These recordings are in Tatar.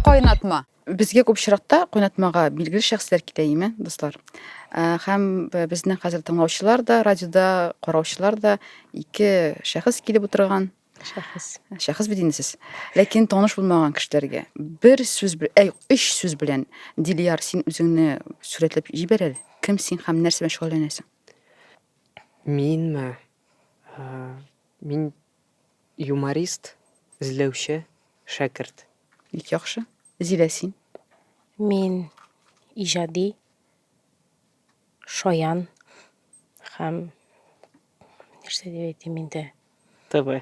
Кайнатма. Безгә күп очракта кайнатмага билгеле шәхесләр китә име, дуслар? Ә, Һәм б- безнең хәзер тыңлаучылар да, радиода караучылар да ике шәхес килеп утырган. Шәхес. Шәхес бит инде сез. Ләкин таныш булмаган кешеләргә бер сүз, бе- әй, өч сүз белән Дилияр, син үзеңне сурәтләп җибәр әле. Кем син һәм нәрсә белән шөгыльләнәсең? Минме? Ә, Мин Юморист, эзләүче, шәкерт. Бик яхшы. Зилә, син? Мин иҗади, шаян һәм, нәрсә дип әйтим инде. ТВ.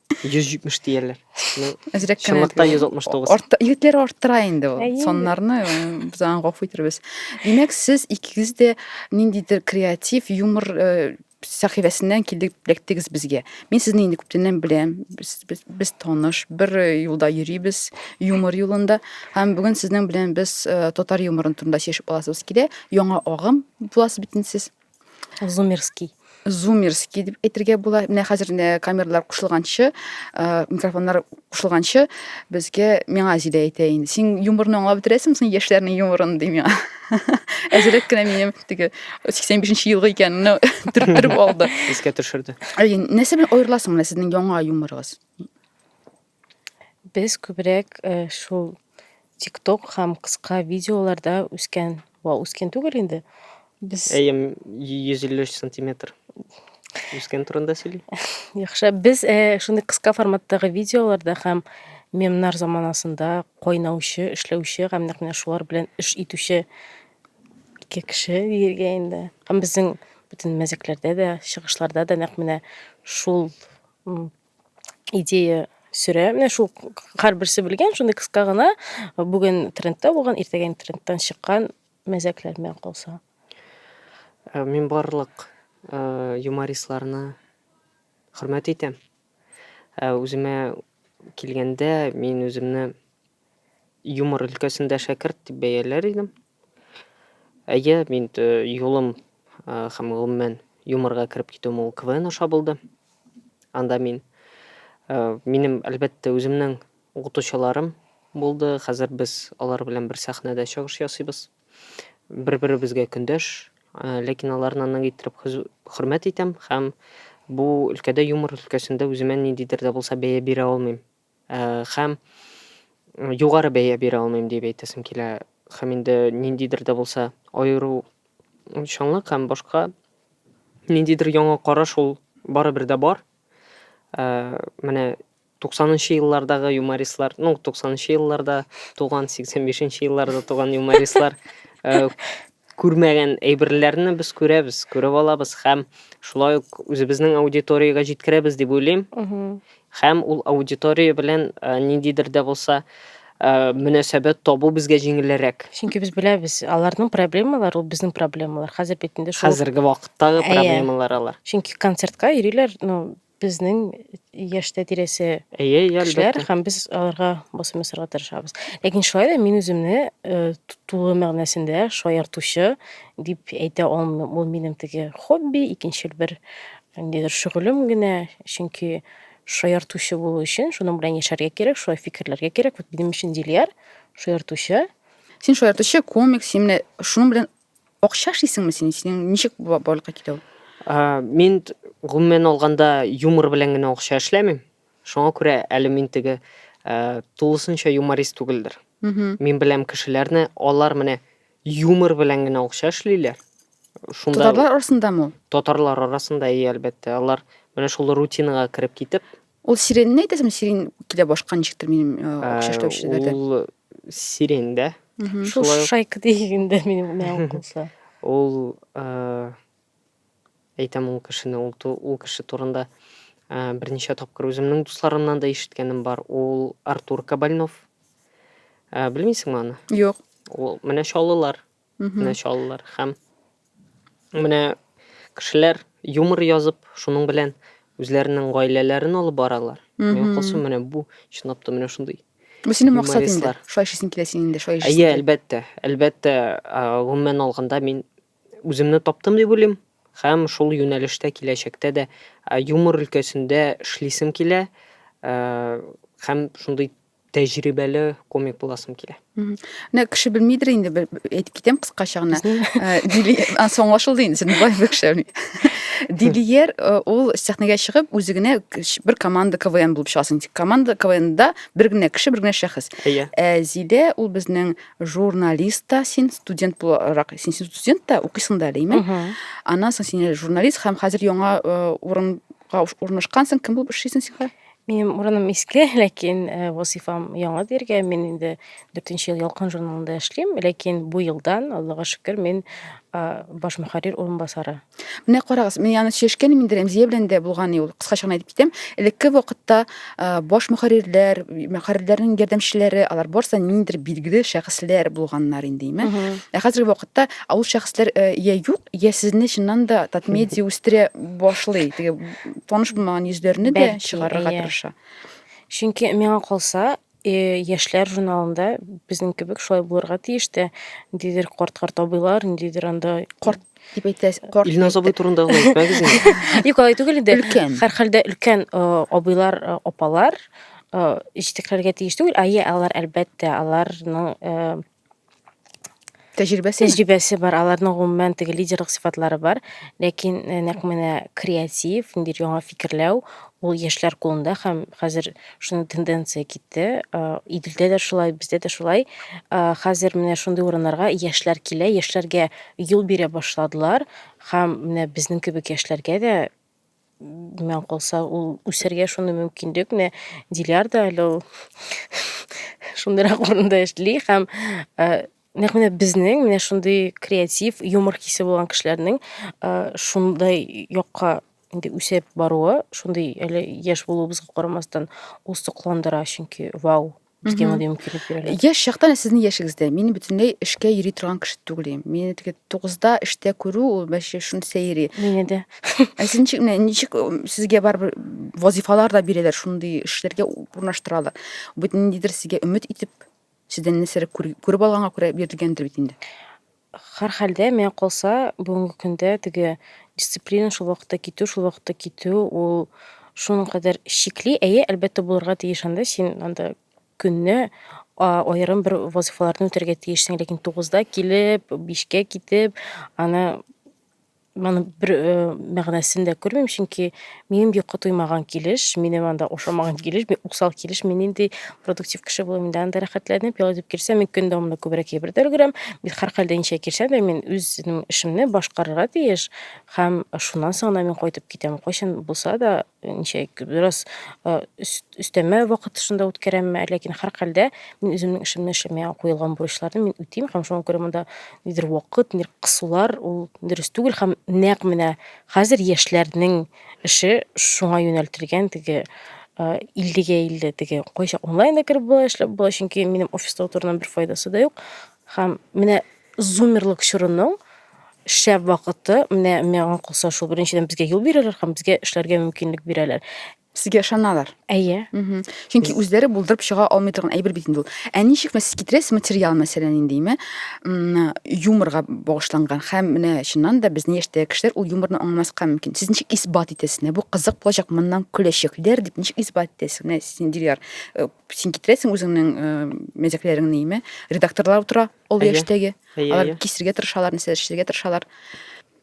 170 диярләр. Әзрәк кенә. Чынлыкта 169. Арт, егетләр арттыра инде ул. Соннарны без аңа гафу итәрбез. Димәк, сез икегез дә ниндидер креатив, юмор э, сәхифәсеннән килеп эләктегез безгә. Мин сезне инде күптәннән беләм. Без, без, без таныш, бер э, юлда йөрибез, юмор юлында. Һәм бүген сезнең белән без э, татар юморын турында сөйләшеп аласыбыз килә. Яңа агым буласыз бит инде сез. Зумерский. Зумерский дип әйтергә була. Менә хәзер инде камералар кушылганчы, э, микрофоннар кушылганчы безгә миңа Зилә әйтә инде. Син юморны аңлап бетерәсеңме соң яшьләрнең юморын ди миңа. Әзрәк кенә минем теге 85 елгы икәнне төрттереп алды. Искә төшерде. Әй, Нәрсә белән аерыласың менә сезнең яңа юморыгыз? Без күбрәк э, шул TikTok һәм кыска видеоларда үскән, ва үскен түгел инде. Без Әйе, 153 сантиметр. Үскән турында сөйли. Яхшы, без э, шундый кыска форматтагы видеоларда һәм мемнар заманасында кайнаучы, эшләүче һәм нәкъ менә шулар белән эш итүче ике кеше диергә инде. Һәм безнең бөтен мәзәкләрдә дә, чыгышларда да нәкъ менә шул идея сөрә. Менә шул һәрберсе белгән, шундый кыска гына бүген трендта булган, иртәгә трендтан чыккан мәзәкләр белән калса. Э, мин барлык э, юмористларны хөрмәт итәм. Э, үземә килгәндә, мин үземне Юмор өлкәсендә шәкерт дип бәяләр идем. Әйе, мин юлым һәм гомумән юморга кереп китүем ул КВН аша булды. Анда мин минем әлбәттә үземнең укытучыларым булды. Хәзер без алар белән бер сәхнәдә чыгыш ясыйбыз. Бер-беребезгә көндәш, ләкин аларны нык иттереп хөрмәт итәм һәм бу өлкәдә юмор өлкәсендә үземә ниндидер дә булса бәя бирә алмыйм. Һәм югары бәя бирә алмыйм дип әйтәсем килә. Һәм инде ниндидер дә булса аеру чаңлык һәм башка ниндидер яңа караш ул барыбер дә бар. Э, менә 90-нчы еллардагы юмористлар, ну, 90-нчы елларда туган, 85-нчы елларда туган юмористлар э, Күрмәгән әйберләрне без күрәбез, күреп алабыз һәм шулай ук үзебезнең аудиториягә җиткерәбез дип уйлыйм. Һәм ул аудитория белән ниндидер дә булса мөнәсәбәт табу безгә җиңелрәк. Чөнки без беләбез, аларның проблемалары ул безнең проблемалар. Хәзер бит инде шул. Хәзерге вакыттагы проблемалар алар. Чөнки концертка йөриләр, ну, безнең яшьтә тирәсе Әйе, әйе, кешеләр әлбәттә. һәм без аларга басым ясарга тырышабыз. Ләкин шулай да мин үземне э, ту- тулы мәгънәсендә шаяртучы дип әйтә алмыйм. Ул минем теге хобби, икенчел бер ниндидер шөгылем генә. Чөнки шаяртучы булу өчен шуның белән яшәргә кирәк, шулай фикерләргә кирәк. Вот минем өчен Дилияр шаяртучы. Син шаяртучы, комик, син менә шуның белән Акча эшлисеңме син? Синең ничек бу барлыкка килү? Ә, Мин т- гомумән алганда юмор белән генә акча эшләмим. Шуңа күрә әле мин теге ә, тулысынча юморист түгелдер. Мгм. Мин беләм кешеләрне, алар менә юмор белән генә акча эшлиләр. Шунда Татарлар арасындамы ул? татарлар арасында и әлбәттә, алар менә шул рутинага кереп китеп, Ул сиренне әйтәсең, сирен килә башка ничектер минем акча э, эшләүчеләрдә. Ул сирен дә. Шул шайка дигәндә минем мәгълүм булса. Ул э, әйтәм ул кешене, ул ул кеше турында э, берничә тапкыр үземнең дусларымнан да ишеткәнем бар. Ул Артур Кабальнов. Белмисеңме аны? Юк. Ул менә чаллылар. Менә чалалар һәм менә кешеләр юмор язып, шуның белән үзләренең гаиләләрен алып баралар. Мин кылсу менә бу чынлап та менә шундый. Бу синең максат инде. Шулай эшлисең килә синең инде, шулай эшлисең. Әйе, әлбәттә. Әлбәттә, гомумән алганда мин үземне таптым дип уйлыйм һәм шул юнәлештә киләчәктә дә юмор өлкәсендә эшлисем килә һәм шундый тәҗрибәле комик буласым килә менә кеше белмидер инде әйтеп китәм кыскача гына ә, соңлашылды инде сен былай бәкшәми дилиер э, ул сәхнәгә чыгып үзе генә бер команда квн булып чыгасың команда квнда бер генә кеше бер генә шәхес иә ә зилә ул безнең журналист та син студент буларак син студент та укыйсың да әле аннан соң син журналист һәм хәзер яңа э, урынга урнашкансың кем булып эшлисең син Минем урыным иске, ләкин э, вазифам яңа дияргә. Мин инде дүртенче ел Ялкын журналында эшлим, ләкин бу елдан, Аллага шөкер, мин а, баш мөхәррир урынбасары. Менә карагыз, мин аны сөйләшкән инде Рәмзия белән дә булган ул. Кыскача гына әйтеп китәм. Элекке вакытта а, баш мөхәррирләр, мөхәррирләрнең ярдәмчеләре, алар барысы да ниндидер билгеле шәхесләр булганнар инде, име. Ә хәзерге вакытта а, ул шәхесләр э, я юк, я сезне чыннан да Татмедиа үстерә башлый. Теге таныш булмаган йөзләрне дә Бәлки, чыгарырга әйе. тырыша. Чөнки миңа калса, э, яшьләр журналында безнең кебек шулай булырга тиеш тә. Ниндидер карт-карт абыйлар, ниндидер анда Карт дип әйтәс, карт. Илназ абый турында гына әйтмәгез инде. Юк, алай түгел инде. Өлкән. Һәрхәлдә өлкән э, абыйлар, э, апалар э, җитәкләргә тиеш түгел. Әйе, алар әлбәттә, аларның э, Тәҗрибәсе. Тәҗрибәсе бар, аларның гомумән теге лидерлык сыйфатлары бар, ләкин э, нәкъ менә креатив, ниндидер яңа фикерләү, ул яшьләр кулында һәм хәзер шуның тенденция китте. Э, Иделдә дә шулай, бездә дә шулай. Э, Хәзер менә шундый урыннарга яшьләр килә, яшьләргә юл бирә башладылар һәм менә безнең кебек яшьләргә дә Миңа калса, ул үсәргә шундый мөмкинлек, менә Диляр да әле ул шундыйрак урында эшли һәм э, нәкъ менә безнең менә шундый креатив, юмор хисе булган кешеләрнең э, шундай якка инде үсеп баруы, шундый әле яшь булуыбызга карамастан, ул сокландыра, чөнки вау, бизгән мондый мөмкинлек бирәләр. Яшь чактан ә сезнең яшегездә мин бөтенләй эшкә йөри торган кеше түгел идем. Мине теге 9-да эштә күрү ул мәче шуны сәйри. Мине дә. Ә сез ничек менә ничек сезгә барыбер вазифалар да бирәләр, шундый эшләргә урнаштыралар. Бу ниндидер сезгә өмет итеп, сездән нәрсәләр күреп алганга күрә бирелгәндер бит инде. Һәрхәлдә, миңа калса, бүгенге көндә теге дисциплина шул вакытта китү, шул вакытта китү, ул шуның кадәр чикли. Әйе, әлбәттә, булырга тиеш анда. Син анда көнне аерым бер вазифаларны үтәргә тиешсең, ләкин тугызда килеп, бишкә китеп, аны Моның бер э, мәгънәсен дә күрмим, чөнки минем йокы туймаган килеш, минем анда ошамаган килеш, мин усал килеш, мин нинди продуктив кеше булам инде анда рәхәтләнеп, ял итеп килсәм, мин көн дәвамында күбрәк әйбер дә өлгерәм. Мин һәрхәлдә ничә килсәм дә, мин үземнең эшемне башкарырга тиеш һәм шуннан соң гына мин кайтып китәм. Кайчан булса да, ничә бераз өстәмә вакыт шунда үткәрәмме әллә ләкин һәрхәлдә мин үземнең эшемне эшлим миңа куелган бурычларны мин үтим һәм шуңа күрә монда нидер вакыт нидер кысулар ул дөрес түгел һәм нәкъ менә хәзер яшьләрнең эше шуңа юнәлтелгән теге иллегә илле теге кайчак онлайнда кереп була эшләп була чөнки минем офиста утыруның бер файдасы да юк һәм менә Зумерлык чорының шәп вакыты, менә миңа калса шул беренчедән безгә юл бирәләр һәм безгә эшләргә мөмкинлек бирәләр. Сезгә ышаналар. Әйе. Мгм. Чөнки үзләре булдырып чыга алмый торган әйбер бит инде ул. Ә ничек мәс китерәсез материал мәсәлән инде име? М, Юморга багышланган һәм менә чыннан да безнең яшьтәге кешеләр ул юморны аңламаска мөмкин. Сез ничек исбат итәсез? Менә бу кызык булачак, моннан көләчәкләр дип ничек исбат итәсез? Менә син Дилияр, э, син китерәсең үзеңнең э, мәзәкләреңне име? Редакторлар утыра, Ул яшьтәге. Алар кисергә тырышалар, нәрсә эшләргә тырышалар.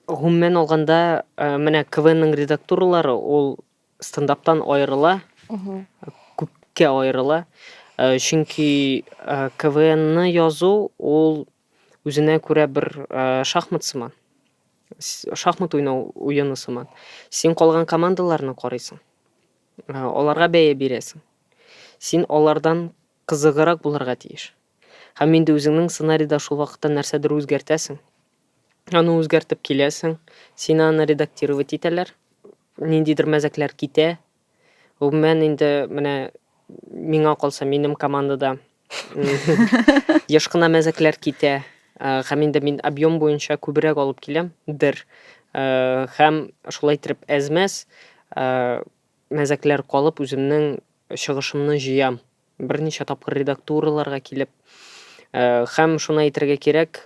Гомумән алганда, э, менә КВНның редактуралары ул стендаптан аерыла, күпкә аерыла. Э, чөнки э, КВНны язу ул үзенә күрә бер шахмат сыман. Шахмат уйнау уены сыман. Син калган командаларны карыйсың. Аларга бәя бирәсең. Син алардан кызыгырак булырга тиеш. Һәм инде үзеңнең сценарийда шул вакытта нәрсәдер үзгәртәсең. Аны үзгәртеп киләсең, сине аны редактировать итәләр, ниндидер мәзәкләр китә. Гомумән инде менә миңа калса, минем командада еш кына мәзәкләр китә. Э, һәм инде мин объем буенча күбрәк алып киләм, дер. Э, һәм шулай итеп әзмәс э, Мәзәкләр калып, үземнең чыгышымны җыям. Берничә тапкыр редактураларга килеп. Һәм шуны әйтергә кирәк,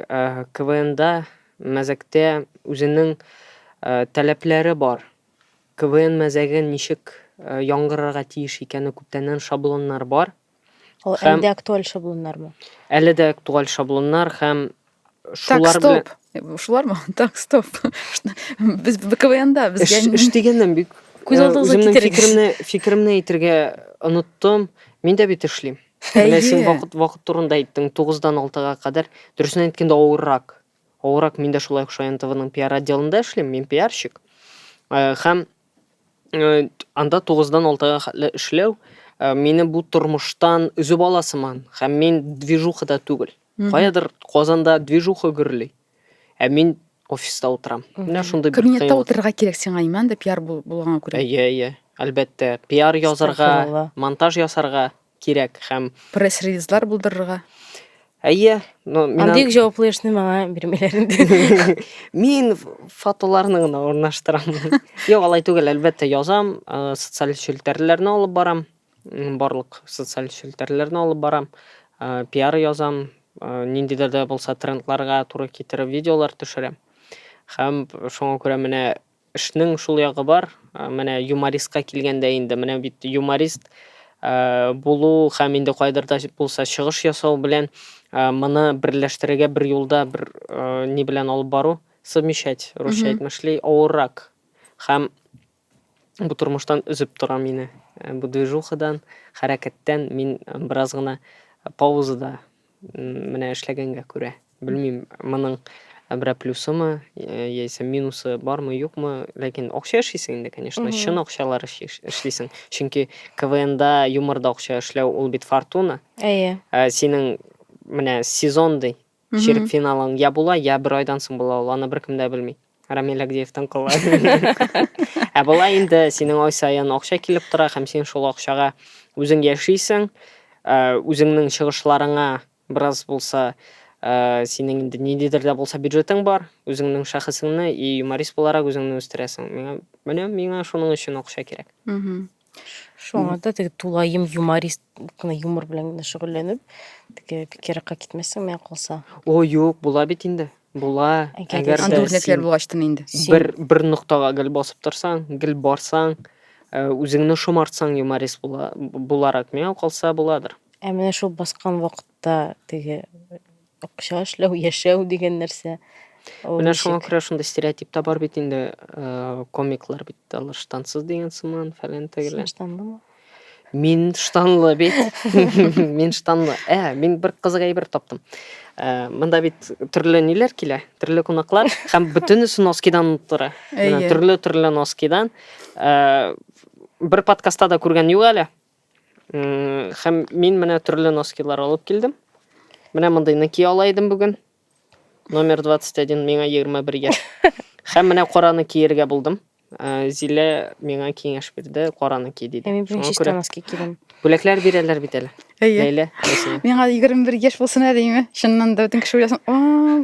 КВНда, мәзәктә үзенең таләпләре бар. КВН мәзәге ничек яңгырарга тиеш икәне күптәннән шаблоннар бар. Ул Һәм- әлдә актуаль шаблоннармы? Әле дә актуаль шаблоннар һәм Так, шулар белән стоп. Э, Шулармы? Так, стоп. Без КВНда эш, безгә эш дигәннән бик Күз э, алдыгызга үземнең китерегез. фикеремне фикеремне әйтергә оныттым. Мин дә бит эшлим. Менә син Әйе. вакыт вакыт турында әйттең, 9-дан 6-га кадәр. Дөресен әйткәндә авыррак. Авыррак мин дә шулай ук Шаян ТВның пиар отделында эшлим, мин пиарщик. Э, Һәм Э, анда 9-дан 6-га хәтле эшләү э, мине бу тормыштан өзеп ала сыман һәм мин движухада түгел. Каядыр Казанда движуха гөрли. Ә мин офиста утырам. Менә шундый бер Кабинетта кыйнлык. утырырга кирәк сиңа иман да пиар бул- булганга күрә. Әйе, әйе. Әлбәттә, пиар язарга, Статуяла. монтаж ясарга, кирәк һәм пресс-релизлар булдырырга. Әйе, но мин Андый җаваплы эшне миңа бирмиләр инде. Мин фотоларны гына урнаштырам. Юк, алай түгел, әлбәттә, язам, э, социаль челтәрләрне алып барам. Барлык социаль челтәрләрне алып барам. Э, пиар язам, э, ниндидер дә булса трендларга туры китереп видеолар төшерәм. Һәм шуңа күрә менә Эшнең шул ягы бар, менә юмористка килгәндә инде, менә бит юморист булу һәм инде кайдыр да булса чыгыш ясау белән моны берләштерергә бер юлда бер ни белән алып бару, совмещать, русча әйтмә шли, авыррак. Һәм бу тормыштан өзеп тора мине, бу движухадан, хәрәкәттән мин бераз гына паузада. Менә эшләгәнгә күрә. Белмим, моның берәр плюсымы, э, яисә минусы бармы, юкмы, ләкин акча эшлисең инде, конечно, Мгм. чын акчалар эш- эш- эшлисең. Чөнки КВНда, юморда акча эшләү ул бит фортуна. Әйе. Ә синең менә сезон ди, Мгм. чирек финалың я була, я бер айдан соң була ул, аны беркем дә белми. Рамиль Агдеевтан куллар. Ә болай инде синең ай саен акча килеп тора һәм син шул акчага үзең яшисең, ә, үзеңнең чыгышларыңа бераз булса, ә, синең инде ниндидер дә булса бюджетың бар, үзеңнең шәхесеңне и юморист буларак үзеңне үстерәсең. Миңа, менә миңа шуның өчен акча кирәк. Мгм. Шуңа да теге тулаем юморист кына юмор белән генә шөгыльләнеп, теге бик еракка китмәссең миңа калса. О, юк, була бит инде. Була. Әгәр Әгәр дә Андый дә үрнәкләр син булгач тын инде. Син- бер бер ноктага гел басып торсаң, гел барсаң, э, үзеңне шомартсаң юморист була, буларак миңа калса буладыр. Ә менә шул баскан вакытта теге Акча эшләү, яшәү дигән нәрсә. Менә шуңа күрә шундый стереотип та бар бит инде, э, комиклар бит алар штансыз дигән сыман, фәлән тегелән. Штанлымы? Мин штанлы бит. Мин штанлы. Ә, мин бер кызык әйбер таптым. Э, монда бит төрле ниләр килә, төрле кунаклар һәм бөтенесе носкидан тора. Менә төрле-төрле носкидан. Э, бер подкастта да күргән юк әле. Хәм мин менә төрле носкилар алып килдем. Менә мондый ныки ала идем бүген. Номер 21 миңа 21 яшь. Хәм менә караны киергә булдым. Э, Зилә миңа киңәш бирде, караны ки диде. Ә мин бүген чиста носки кидем. Бүләкләр бирәләр бит әле. Әйе. Ләйлә, әсенә. Миңа 21 яшь булсын әле име? Чыннан да бөтен кеше уйласын. О,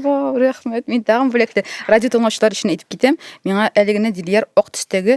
вау, рәхмәт. Мин тагын бүләкле. Радио тыңлаучылар өчен әйтеп китәм. Миңа әлегенә Дилияр ак төстәге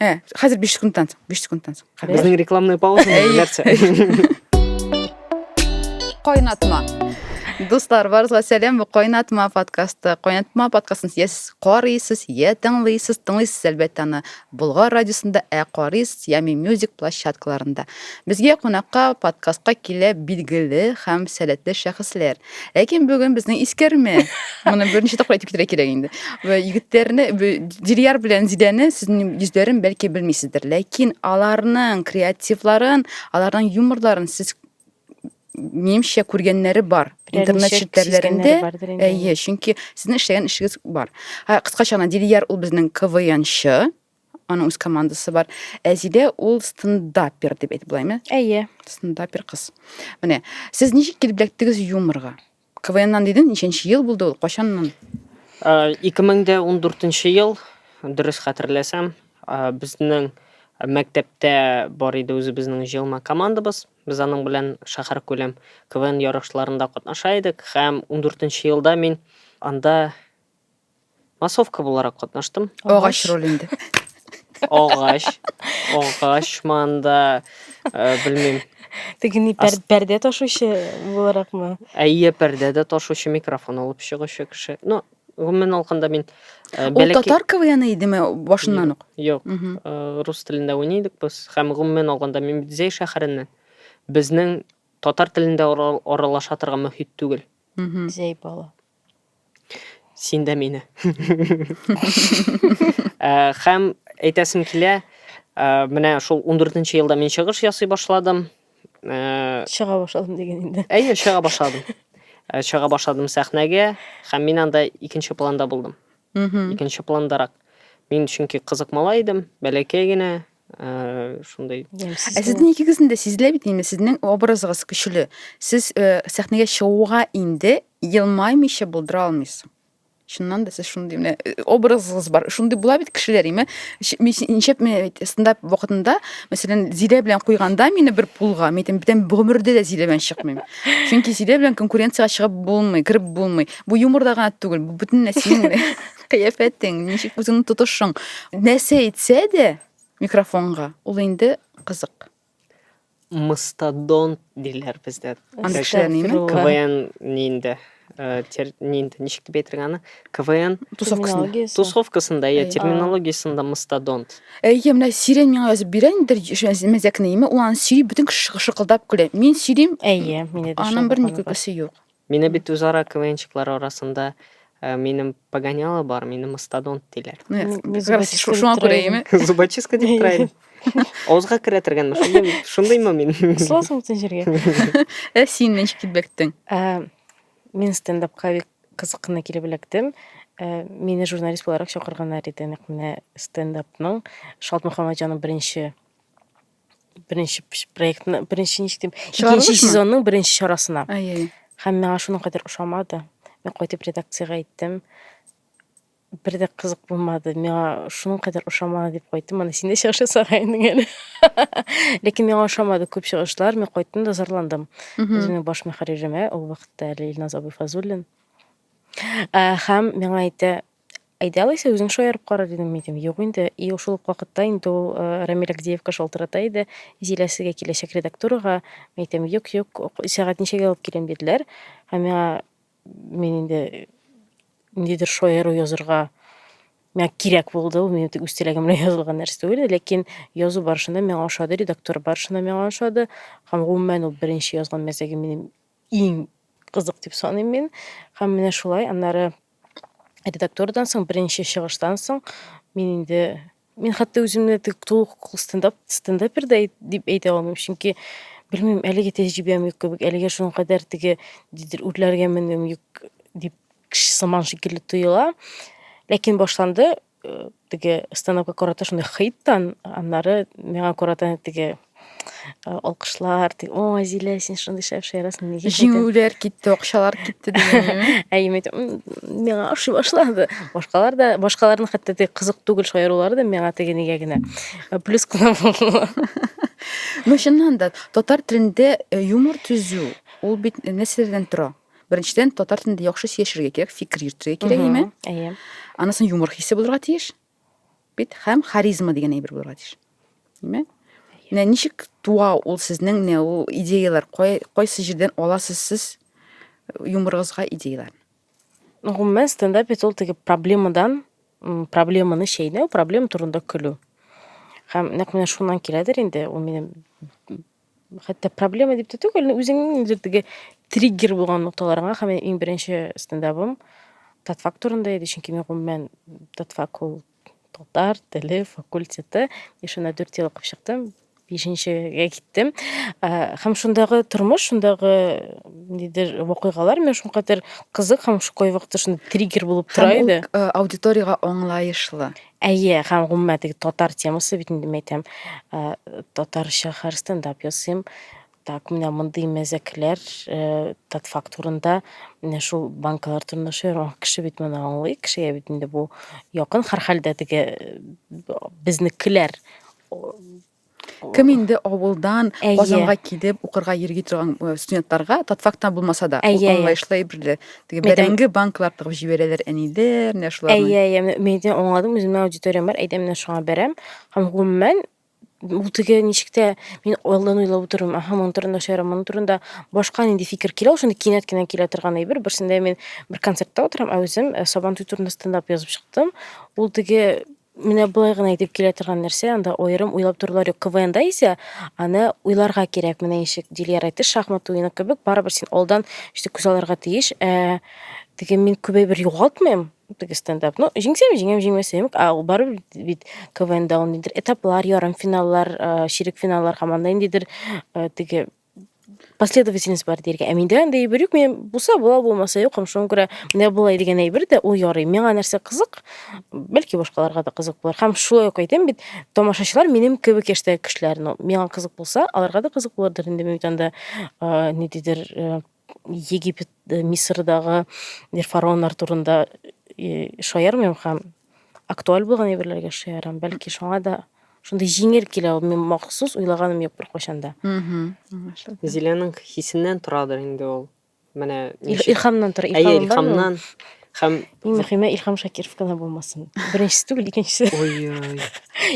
ә хәзер биш секундтан соң биш секундтан соң безнең рекламная пауза нәрсә кайнатма Дуслар, барызга сәлам. Бу Кайнатма подкасты. Кайнатма подкастын я сез карыйсыз, я тыңлыйсыз, тыңлыйсыз әлбәттә аны Болгар радиосында, ә карыйсыз Ями Music площадкаларында. Безгә кунакка подкастка килә билгеле һәм сәләтле шәхесләр. Ләкин бүген безнең искәрмә. Моны берничә тапкыр әйтеп китәргә кирәк инде. Вә егетләрне Дилияр белән Зидәне сезнең йөзләрен бәлки белмисездер, ләкин аларның креативларын, аларның юморларын сез минемчә күргәннәре бар интернет челтәрләрендә әйе чөнки сезнең эшләгән эшегез бар кыскача гына дилияр ул безнең квнчы Аның үз командасы бар. Әзидә ул стендапер дип әйтеп буламы? Әйе. Стендапер кыз. Менә, сез ничек килеп эләктегез юморга? КВНнан диден, ничәнче ел булды ул? Кайчаннан? 2014 ел, дөрес хәтерләсәм, безнең мәктәптә бар иде үзебезнең җыелма командабыз. Без аның белән шәһәр күләм КВН ярышларында катнаша идек һәм 14 елда мин анда Массовка буларак катнаштым. Агач роль инде. Агач, агач манда, э, белмим. Теге ни пәр- пәрдә ташучы буларакмы? Әйе, пәрдә дә ташучы микрофон алып чыгучы кеше. Ну, гомумән алганда мин э, Ул бәләкәй- татар КВНы идеме башыннан ук? Юк, Мгм. э, рус телендә уйный идек без. Һәм гомумән алганда мин бит Зәй шәһәреннән. Безнең татар телендә ара- аралаша торган мөхит түгел. Мгм. Зәй бала. Син дә мине. Э, хәм әйтәсем килә, э, менә шул 14-нче елда мин чыгыш ясый башладым. Э, Чыга башладым дигән инде. Әйе, чыга башладым. Э, чыга башладым сәхнәгә, хәм мин анда икенче планда булдым. Икенче пландарак. Мин чөнки кызык малай идем, бәләкәй генә, ә, шундый ә сезнең икегезнең дә сизелә бит инде сезнең образыгыз көчле сез ә, сәхнәгә чыгуга инде елмаймыйча булдыра алмыйсыз чыннан да сез шундый менә э, образыгыз бар шундый була бит кешеләр име ничәп стендап вакытында мәсәлән зилә белән куйганда мине бер пулга мен әйтәм бүтән гомердә дә зилә белән чыкмыйм чөнки зилә белән конкуренцияга чыгып булмый кереп булмый бу юморда гына түгел бу бөтен нәрсә кыяфәтең, ничек үзеңне тотышың, нәрсә әйтсә дә микрофонга, ул инде кызык. Мастодонт диләр бездә. Андый кешеләр ними? КВН нинде? Э, нинди ничек дип әйтергә аны квн тусовкасында тусовкасында иә терминологиясында мастодонт әйе менә сирень миңа язып бирә инде мәзәкне име ул аны сөйли бөтен кеше шыкылдап көлә мин сөйлим әйе мине дә аның бер күлкесе юк Мине бит үзара КВНчыклар арасында э, минем погоняло бар, мине мастодонт диләр. Ну, я Ми- как мизубочистка раз шу- дип шуңа күрә торайым. име? Зубочистка дип тора идем. Авызга керә торганмы? Шундый, шундыймы мин? Кысыласың бөтен җиргә. Ә син ничек китбәктең? Ә, Мин стендапка бик кызык кына килеп эләктем. Ә, Мине журналист буларак чакырганнар иде. Нәкъ менә стендапның Шалт Мөхәммәтҗанның беренче беренче проектны беренче ничек дим икенче сезонның беренче чарасына һәм миңа шуның кадәр ошамады мен кайтып редакциягә әйттем бер дә кызык булмады миңа шуның кадәр ошамады дип кайттым аны син дә чыгыш ясага инең әле ләкин миңа ошамады күп чыгышлар мен кайттым да зарландым үземнең баш мөхәрриремә ул вакытта әле илназ абыйфазуллин һәм миңа әйтә Әйдә алайса, үзең шаярып кара, дидем мин. Дим, юк инде. И шул ук вакытта инде ул Рамил Агдеевка шалтырата иде, Зилә сезгә киләчәк редактурага. Мин әйтәм, юк, юк, сәгать ничәгә алып килим, диделәр. Һәм миңа мин инде ниндидер шаяру язырга миңа кирәк булды, ул минем үз теләгем белән язылган нәрсә түгел, ләкин язу барышында миңа ошады, редактура барышында миңа ошады. Һәм гомумән ул беренче язган мәзәге минем иң кызык дип саныйм мин. Һәм менә шулай, аннары редактурадан соң, беренче чыгыштан соң мин инде мин хәтта үземне тулы хокуклы стендап стендапер да дип әйтә алмыйм, чөнки белмим, әлеге тәҗрибәм юк кебек, әлегә шуның кадәр теге дидер үрләргә менүем юк дип сыман шикелле тоела. Ләкин башланды, э, теге станокка карата шундый хит тан, аннары миңа карата теге Э, алкышлар ди о зилә син шундый шәп шаярасың неге җиңүләр китте акчалар китте дигәнме әйеме миңа ошый башлады башкалар да башкаларның хәтта теге кызык түгел шаярулары да миңа теге нигә генә э, плюс кына булды ну чыннан да татар телендә э, юмор төзү ул бит нәрсәләрдән тора Беренчедән, татар телендә яхшы сөйләшергә кирәк, фикер йөртергә кирәк, әйме? Әйе. Анысын юмор хисе булырга тиеш. Бит һәм харизма дигән әйбер булырга тиеш. Әйме? Менә ничек туа ул сезнең менә ул идеяләр, кайсы җирдән аласыз сез юморыгызга идеяләр? Гомумән стендап бит ул теге проблемадан проблеманы чәйнәү, проблема турында көлү. Һәм нәкъ менә шуннан киләдер инде, ул минем хәтта проблема дип тә түгел, үзеңнең ниндидер теге триггер булган нокталарыңа һәм минем иң беренче стендабым татфак турында иде, чөнки мин гомумән татфак ул татар теле факультеты, мин шунда 4 ел укып чыктым, бишенчегә киттем. Ә, Һәм шундагы тормыш, шундагы ниндидер вакыйгалар миңа шулкадәр кызык һәм шундый вакытта шундый триггер булып тора Һәм ул иде. э, аудиториягә аңлаешлы. Әйе, һәм гомумән теге татар темасы бит инде мәйтәм, татарча хәр стендап ясыйм. Так, менә мондый мәзәкләр, тат факт урында, менә шул банкалар турында шуйрак кеше бит моны аңлый, кешегә бит инде бу якын, һәр хәлдә теге безнекеләр Кем инде авылдан Казанга килеп укырга йөрги торган э, студентларга татфактан булмаса да ул аңлаешлы әйбер дә. Теге бәрәңге банклар тыгып җибәрәләр әниләр, менә шуларны. Әйе, әйе, мин дә аңладым, үземнең аудиториям бар, әйдә менә шуңа бәрәм. Һәм гомумән ул теге ничек тә мин алдан уйлап утырам, аха, моның турында шаярам, моның турында башка нинди фикер килә, ул шундый кинәт кенә килә торган әйбер. Берсендә мин бер концертта утырам, ә үзем э, Сабантуй турында стендап язып чыктым. Ул теге Менә болай гына итеп килә торган нәрсә, анда аерым уйлап торулар юк. КВНда исә аны уйларга кирәк. Менә ничек Дилияр әйтте, шахмат уены кебек, барыбер син алдан ишетеп күз алырга тиеш. Ә, теге мин күбәй бер югалтмыйм, теге стендап. Ну, җиңсәм, җиңәм, җиңмәсәм, а ул барыбер бит КВНда ул ниндидер этаплар, ярым финаллар, ширек финаллар һәм анда ниндидер теге последовательность бар диергә. Ә миндә андый әйбер юк. Мен булса була, булмаса юк. Һәм шуңа күрә менә болай дигән әйбер дә ул ярый. Миңа нәрсә кызык, бәлки башкаларга да кызык булыр. Һәм шулай ук әйтәм бит, тамашачылар минем кебек яшьтәге кешеләр. Ну, миңа кызык булса, аларга да кызык булырдыр инде. Мин бит анда, э, ниндидер, э, Египет, э, Мисырдагы фараоннар турында э, шаярмыйм һәм актуаль булган әйберләргә шаярам. Бәлки шуңа да шундый җиңел килә ул. Мин махсус уйлаганым юк беркайчан да. Зиләнең хисеннән торадыр инде ул. Менә ничек- Илхамнан тора. Әйе, Илхам бар ул. илхамнан һәм Иң мөһиме Илхам Шакиров кына булмасын. Беренчесе түгел, икенчесе. ой-ой.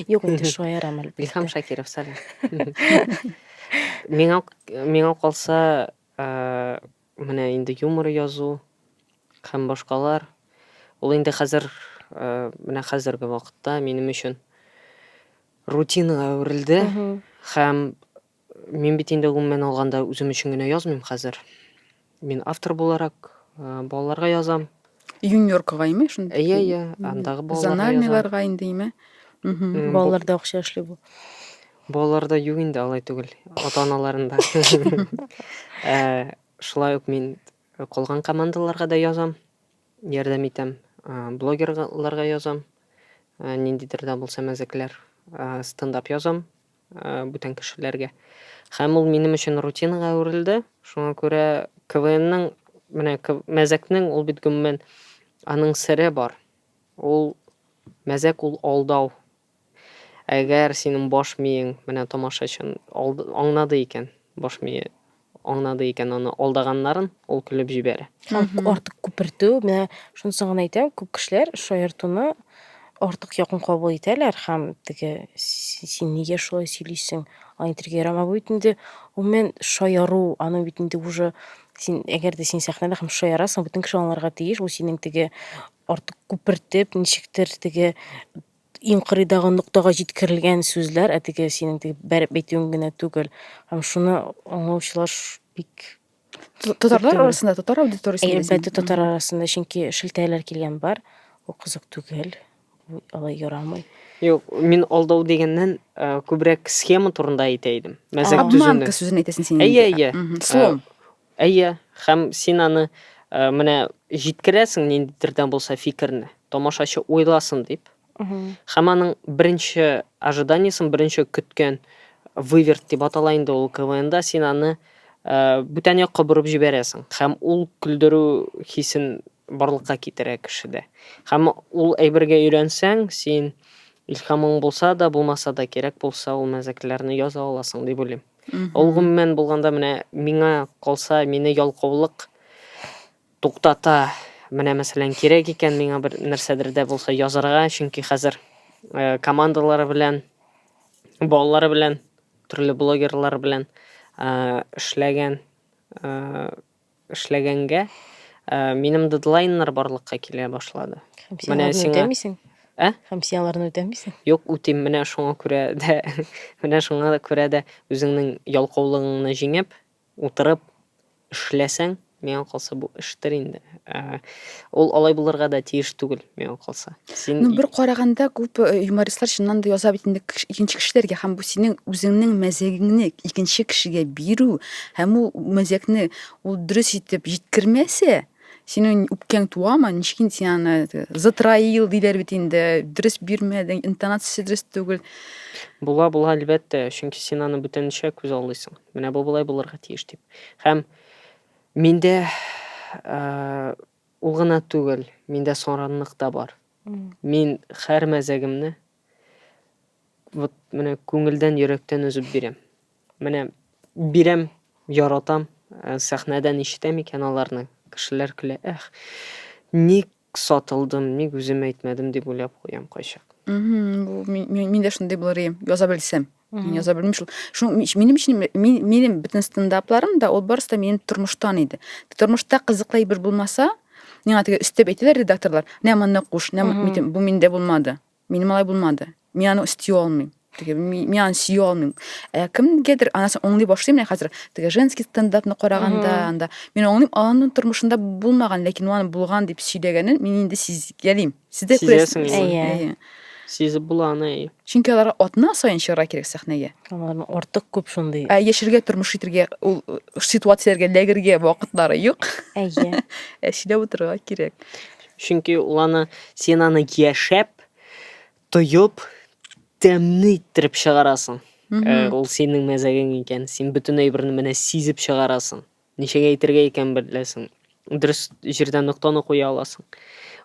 Юк, инде шаярам әлбәттә. Илхам Шакиров, сәлам. Миңа миңа калса, менә инде юмор язу һәм башкалар. Ул инде хәзер менә хәзерге вакытта минем өчен рутинага әверелде. Һәм мин бит инде гомумән алганда үзем өчен генә язмыйм хәзер. Мин автор буларак балаларга язам. Юниоркага име шунда? Әйе, әйе, андагы балаларга язам. Зональныйларга инде име? Балаларда акча эшли бу. Балаларда юк инде алай түгел, ата-аналарында. Шулай ук мин калган командаларга да язам, ярдәм итәм. Блогерларга язам. Ниндидер дә булса мәзәкләр, стендап язам. бүтән кешеләргә. Һәм ул минем өчен рутинага әверелде. Шуңа күрә КВНның, менә мәзәкнең ул бит гомумән аның сере бар. Ул мәзәк ул алдау. Әгәр синең баш миең менә тамашачын аңнады икән, баш мие аңнады икән аны алдаганнарын, ул көлеп җибәрә. Шуны артык күпертү, менә шунысын гына әйтәм, күп кешеләр шаяртуны артык якын кабул итәләр һәм теге син нигә шулай сөйлисең, аны итәргә ярамый. Бу бит инде гомумән шаяру, аның бит инде уже син әгәр дә син сәхнәдә һәм шаярасың, бөтен кеше аңларга тиеш, бу синең теге артык күпертеп, ничектер теге иң кырыйдагы ноктага җиткерелгән сүзләр, ә теге синең теге бәреп әйтүең генә түгел. Һәм шуны аңлаучылар бик Татарлар арасында, татар аудиториясендә. Әлбәттә, татар арасында, чөнки шелтәләр килгән бар. Бу кызык түгел. Бу алай ярамый. Юк, мин алдау дигәннән э, күбрәк схема турында әйтә идем. Мәзәк төзүне. Обманка сүзен әйтәсен син. Әйе, әйе. Слом. Э, Әйе, һәм син аны, менә, җиткерәсең ниндидер дә булса фикерне, тамашачы уйласын дип. Һәм аның беренче ожиданиесен, беренче көткән выверт дип атала инде ул КВНда, син аны бүтән якка борып җибәрәсең. Һәм ул көлдерү хисен барлыкка китерә кешедә. Һәм ул әйбергә өйрәнсәң, син илһамың булса да, булмаса да, кирәк булса, ул мәзәкләрне яза аласың дип уйлыйм. Ул гомумән булганда менә миңа калса, мине ялкаулык туктата. Менә мәсәлән, кирәк икән миңа бер нәрсәдер дә булса язарга, чөнки хәзер э, командалары белән, балалары белән, төрле блогерлар белән э, эшләгән э, эшләгәнгә, минем дедлайннар барлыкка килә башлады. Һәм син аларны үтәмисең? Ә? Һәм син аларны үтәмисең? Юк, үтим. Менә шуңа күрә дә, менә шуңа күрә дә үзеңнең ялкаулыгыңны җиңеп, утырып эшләсәң, миңа калса бу эштер инде. Ул алай булырга да тиеш түгел. миңа калса. Син Ну, бер караганда күп э, юмористлар чыннан да яза бит инде кеш- икенче кешеләргә һәм бу синең үзеңнең мәзәгеңне икенче кешегә бирү һәм ул мәзәкне ул дөрес итеп җиткермәсә, синең үпкәң туамы? Ничек инде син аны э, затраил диләр бит инде, дөрес бирмәдең, интонациясе дөрес түгел. була була әлбәттә, чөнки син аны бүтәнчә күз алдыйсың. Менә бу болай булырга тиеш дип. Һәм миндә э, Ул гына түгел, миндә саранлык та бар. Мин хәр мәзәгемне вот менә күңелдән, йөрәктән өзеп бирәм. Менә бирәм, яратам, э, сәхнәдән ишетәм икән аларны, кешеләр көлә, эх, ник сатылдым, ник үзем әйтмәдем дип уйлап куям кайчак. Мин, мин дә шундый булыр идем, яза белсәм. Мин яза белмим шул. Шуның минем өчен минем бөтен стендапларым да ул барысы да минем тормыштан иде. Тормышта кызыклы әйбер булмаса, миңа теге өстәп әйтәләр редакторлар, "Нә моны куш, нә митем, бу миндә булмады. Минем алай булмады. Мин аны өсти алмыйм." Теге мин аны сөй алмыйм. Ә кемгәдер анасын оңлый башлыйм менә хәзер. Теге женский стендапны караганда, анда мин оңлыйм, аның тормышында булмаган, ләкин аны булган дип сөйләгәнен мин инде сизгәлим. Сез дә күрәсезме? Сизәсеңме? Әйе. Әйе. Сизеп була аны, әйе. Чөнки аларга атна саен чыгарга кирәк сәхнәгә. Аларның артык күп шундый. Ә яшәргә, тормыш итәргә, ул э, ситуацияләргә эләгергә вакытлары юк. Әйе. Ә сөйләп утырырга кирәк. Чөнки ул аны, син аны яшәп, тоеп, тәмне иттереп чыгарасың. Э, Ул синең мәзәгең икән. Син бөтен әйберне менә сизеп чыгарасың. Ничек әйтергә икән беләсең. Дөрес җирдә ноктаны куя аласың.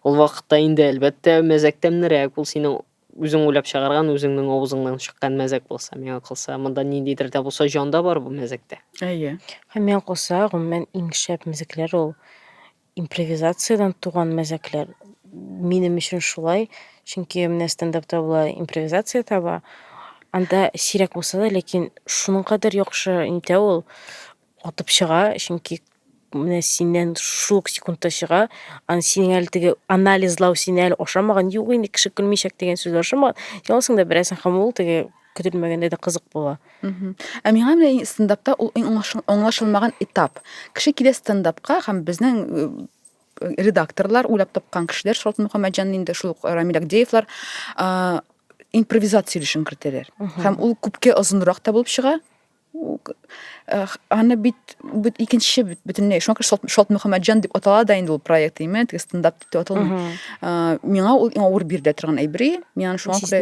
Ул вакытта инде, әлбәттә, мәзәк тәмнерәк. Ул синең үзең уйлап чыгарган, үзеңнең авызыңнан чыккан мәзәк булса, миңа калса, монда ниндидер дә булса җан да бар бу мәзәктә. Әйе. Һәм миңа калса, гомумән, иң шәп мәзәкләр ул Импровизациядән туган мәзәкләр. Минем өчен шулай, чөнки менә стендапта була импровизация таба. Анда сирәк булса да, ләкин шуның кадәр яхшы интә ул атып чыга, чөнки менә синнән шул ук секундта чыга, ан синең әле теге анализлау сине әле ашамаган, юк инде кеше көлмичәк дигән сүз ашамаган, ялсың да берәсен һәм ул теге көтелмәгәндә дә кызык була. Ә миңа менә стендапта ул иң аңлашылмаган этап. Кеше килә стендапка һәм безнең э, редакторлар, уйлап тапкан кешеләр, Шалт Мөхәммәтҗан инде шул ук Рамил Агдеевлар э, импровизация өлешен кертәләр. Һәм ул күпкә озынрак та булып чыга. Э, аны бит бит икенче бөтенләй шуңа күрә шалт, шалт мөхәммәтҗан дип атала да инде ул проект именно теге стендап дип аталмый ә, миңа ул иң авыр бирелә торган әйбер миңа шуңа күрә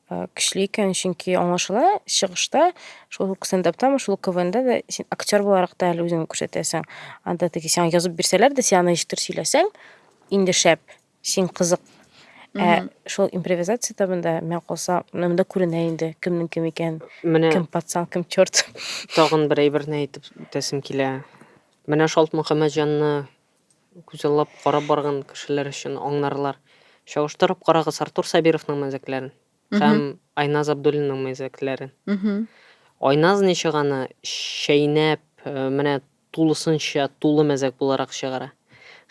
Э, көчле икән, чөнки аңлашыла чыгышта, шул ук стендаптамы, шул ук КВНда да син актер буларак та әле үзеңне күрсәтәсең. Анда теге сиңа язып бирсәләр дә, син аны ничектер сөйләсәң, инде шәп, син кызык. Ә шул импровизация табында мен калса, монда күренә инде кемнең кем икән, Менә кем пацан, кем черт. тагын бер әйберне әйтеп үтәсем килә. Менә Шалт Мөхәммәтҗанны Күзаллап карап барган кешеләр өчен аңларлар. Чагыштырып карагыз Артур Сабировның мәзәкләрен һәм Айназ Абдуллинның мәзәкләрен. Айназ ничеганы чәйнәп, менә тулысынча тулы мәзәк буларак чыгара.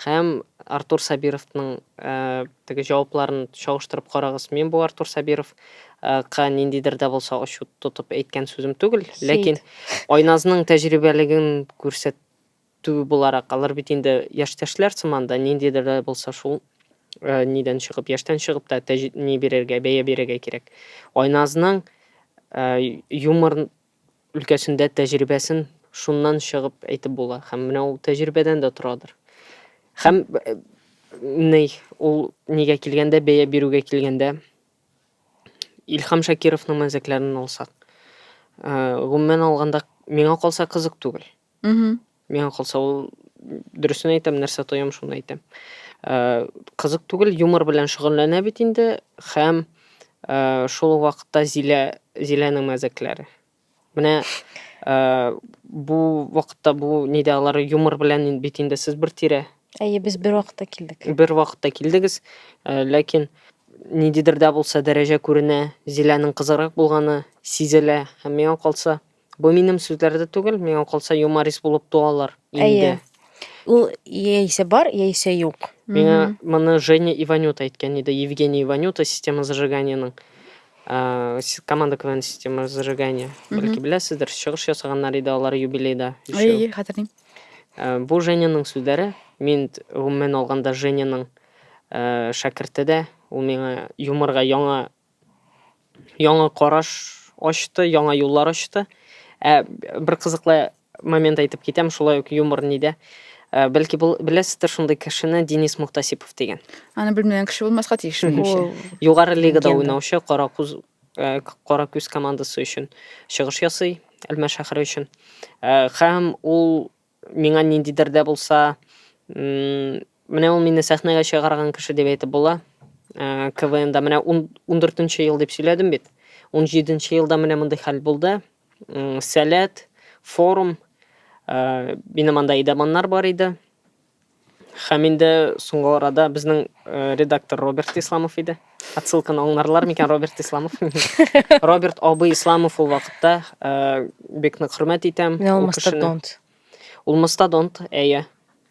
Һәм Артур Сабировның теге җавапларын чагыштырып карагыз. Мин бу Артур Сабиров ка ниндидер дә булса ачу тотып әйткән сүзем түгел, ләкин Айназның тәҗрибәлеген күрсәт Төбе буларак, алар бит инде яшьтәшләр сыман да, ниндидер дә булса шул нидән чыгып, яшьтән чыгып та тәҗ, ни бирергә, бәя бирергә кирәк. Айназның юмор өлкәсендә тәҗрибәсен шуннан чыгып әйтеп була. Һәм менә ул тәҗрибәдән дә торадыр. Һәм ни, ул нигә килгәндә, бәя бирүгә килгәндә, Илхам Шакировның мәзәкләрен алсак, гомумән алганда, миңа калса кызык түгел. Мхм. Миңа калса ул дөресен әйтәм, нәрсә тоям, шуны әйтәм. Э, Кызык түгел, юмор белән шөгыльләнә бит инде һәм э, шул ук вакытта Зилә Зиләнең мәзәкләре. Менә э, бу вакытта бу нидә алар юмор белән ин- бит инде сез бер тирә, Әйе, без бер вакытта килдек. бер вакытта килдегез, э, ләкин ниндидер дә булса дәрәҗә күренә, Зиләнең кызыграк булганы сизелә һәм миңа калса Бу минем сүзләр дә түгел, миңа калса юморист булып туалар инде. Әйе. Ул яисә бар, яисә юк. Миңа моны Женя Иванюта әйткән иде, Евгений Иванюта система зажиганиянең э, с- команда КВН система зажигания. Бәлки беләсездер, чыгыш ясаганнар иде алар юбилейда. өчәү. Әйе, хәтерлим. Э, Бу Женяның сүзләре. Мин т- гомумән алганда Женяның э, шәкерте дә. Ул миңа юморга яңа яңа караш ачты, яңа юллар ачты. Ә бер кызыклы момент әйтеп китәм, шулай ук юмор нидә. Ә, Бәлки бул- беләсездер шундый кешене Денис Мухтасипов дигән. Аны белмәгән кеше булмаска тиеш, минемчә. Ул Югары лигада Легенда. уйнаучы Каракуз э, К- Каракүз командасы өчен чыгыш ясый, Әлмәт шәһәре өчен. Э, Һәм ул Миңа ниндидер дә булса, менә ул мине сәхнәгә чыгарган кеше дип әйтеп була. Э, КВНда менә 14 нче ел дип сөйләдем бит. 17 нче елда менә мондый хәл булды. Сәләт, форум, э, минем анда идаманнар бар иде. Һәм инде соңгы арада безнең редактор Роберт Исламов иде. Отсылканы аңларлар микән Роберт Исламов? Роберт абый Исламов ул вакытта бик нык хөрмәт итәм. Менә ул мастодонт. Ул мастодонт, әйе.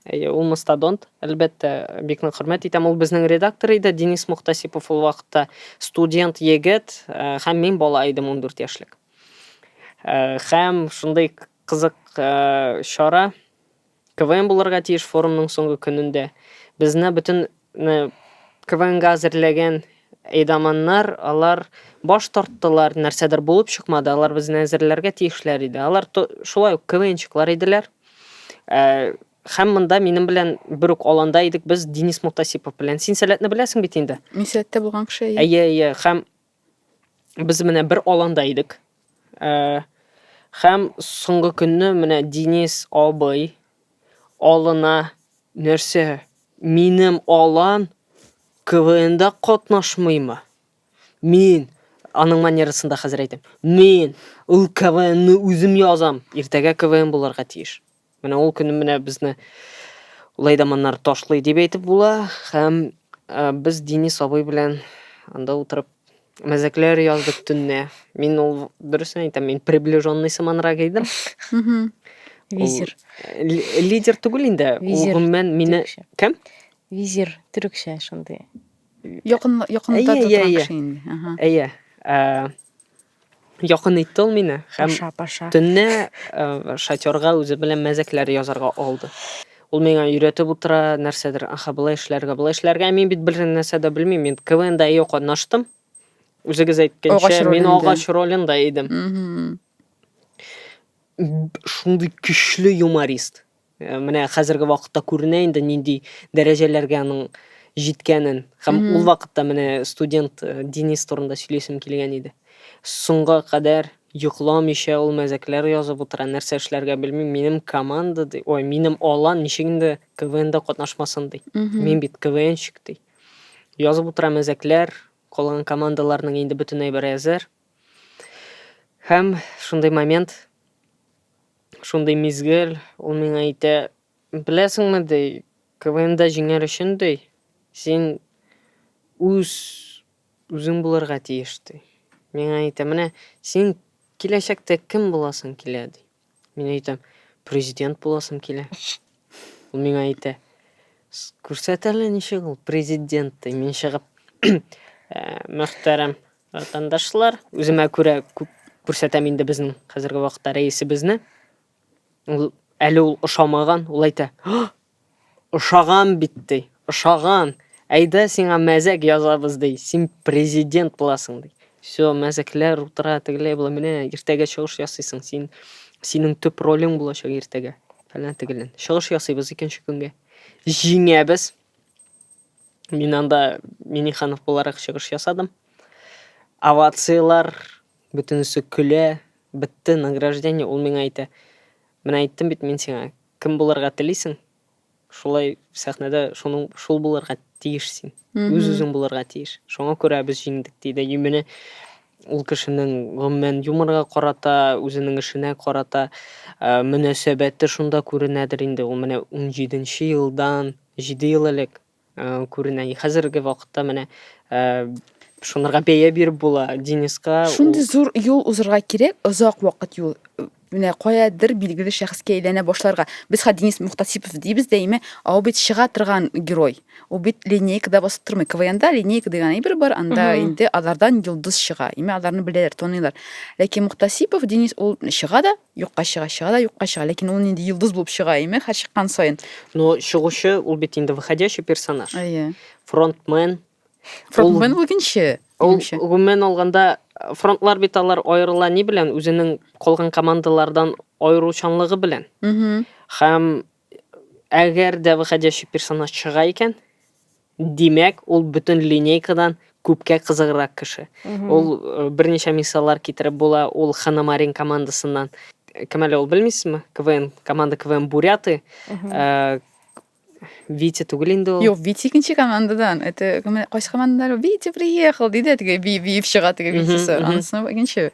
Әйе, ул мастодонт. Әлбәттә, бик нык хөрмәт итәм. Ул безнең редактор иде, Денис Мухтасипов ул вакытта студент егет, һәм мин бала идем 14 яшьлек. Һәм шундый кызык чара КВН булырга тиеш форумның соңгы көнендә. Безне бөтен КВНга әзерләгән әйдаманнар, алар баш тарттылар, нәрсәдер булып чыкмады, алар безне әзерләргә тиешләр иде. Алар шулай ук КВНчыклар иделәр. Хәм монда минем белән бер үк аланда идек без Денис Мухтасипов белән. Син Сәләтне беләсең бит инде? Мин Сәләттә булган кеше. Әйе, әйе. Хәм Без менә бер аланда идек. Э, һәм соңгы көнне менә Денис абый алына нәрсә? Минем алан КВНда катнашмыймы? Мин аның манерасында хәзер әйтәм. Мин ул КВНны үзем язам. Иртәгә КВН булырга тиеш. Менә ул көнне менә безне улай да моннар ташлый дип әйтеп була һәм ә, без Денис абый белән анда утырып мәзәкләр яздык төнне. Мин ул дөресен әйтәм, мин приближенный сыманрак идем. Визир. Лидер түгел инде. Визир. Гомумән мине кем? Визир төрекчә шундый. Якын якында торган кеше инде. Әйе. Якын итте ул мине һәм Паша, паша. төнне э, шатёрга үзе белән мәзәкләр язарга алды. Ул миңа өйрәтеп утыра, нәрсәдер, аха, былай эшләргә, былай эшләргә. Ә Мин бит бер нәрсә дә белмим. Мин КВНда ие катнаштым. Үзегез Агач әйткәнчә, мин ролендә. агач ролендә идем. Мгм. Б- Шундый көчле юморист. Менә хәзерге вакытта күренә инде нинди дәрәҗәләргә аның җиткәнен. Һәм mm -hmm. ул вакытта менә студент э, Денис турында сөйләсем килгән иде. Соңга кадәр йокламыйча ул мәзәкләр язып утыра, нәрсә эшләргә белми. Минем команда, ди, ой, минем алан ничек инде КВНда катнашмасын ди. Mm -hmm. Мин бит КВНщик ди. Язып утыра мәзәкләр, калган командаларның инде бөтен әйбер әзер. Һәм шундый момент Шундый мизгел, ул миңа әйтә, Беләсеңме, ди, КВНда җиңәр өчен, ди, син үз үзең булырга тиеш, ди. Миңа әйтә, Менә син киләчәктә кем буласың килә, ди. Мин әйтәм, Президент буласым килә. Ул миңа әйтә, Күрсәт әле, ничек ул президент, ди. Мин чыгып, Мөхтәрәм Ватандашлар, үземә күрә күп күрсәтәм инде безнең хәзерге вакытта рәисебезне. Ул әле ул ошамаган, ул әйтә, ошаган бит ди, ошаган. Әйдә сиңа мәзәк язабыз ди, син президент буласың ди. Все, мәзәкләр утыра, тегеләй була, менә иртәгә чыгыш ясыйсың, син, синең төп ролең булачак иртәгә. Фәлән тегелен. Чыгыш ясыйбыз икенче көнгә. Җиңәбез. Мин анда Миниханов буларак чыгыш ясадым. Овациялар, бөтенесе көлә, бетте награждение, ул миңа әйтә. Менә әйттем бит мин сиңа, кем булырга телисең? Шулай сәхнәдә шуның шул булырга тиеш син. Үз-үзең булырга тиеш. Шуңа күрә без җиңдек, диде. И менә Ул кешенең, гомумән, юморга карата, үзенең эшенә карата мөнәсәбәте шунда күренәдер инде. Ул менә унҗиде нче елдан, җиде ел элек күренә. И хәзерге вакытта менә шунырга бәя биреп була. Дениска ул. Шундый зур юл узырга кирәк, озак вакыт юл. Менә каядыр билгеле шәхескә әйләнә башларга. Без хә Денис Мухтасипов дибез дә име, ә ул бит чыга торган герой. Ул бит линейкада басып тормый. КВНда линейка дигән әйбер бар, анда инде алардан йолдыз чыга. Име аларны беләләр, таныйлар. Ләкин Мухтасипов Денис ул чыга да, юкка чыга, чыга да, юкка чыга. Ләкин ул нинди йолдыз булып чыга име һәр чыккан саен. Ну, чыгучы, ул бит инде выходящий персонаж. Әйе. Фронтмен, Ул гомумән үкенче. Ул Минемчә. гомумән алганда э, фронтлар бит алар аерыла ни белән? Үзенең калган командалардан аеручанлыгы белән. Мгм. Һәм әгәр дә выходящий персонаж чыга икән, димәк, ул бөтен линейкадан күпкә кызыграк кеше. Ул э, берничә мисаллар китереп була, ул Ханамарин командасыннан. Кем әле ул белмисезме? КВН, команда КВН Буряты. Э, Витя түгел инде ул. Юк, Витя икенче командадан. Это кайсы командадан? Витя приехал, диде теге би биеп чыга теге Витясы. Анысы икенче.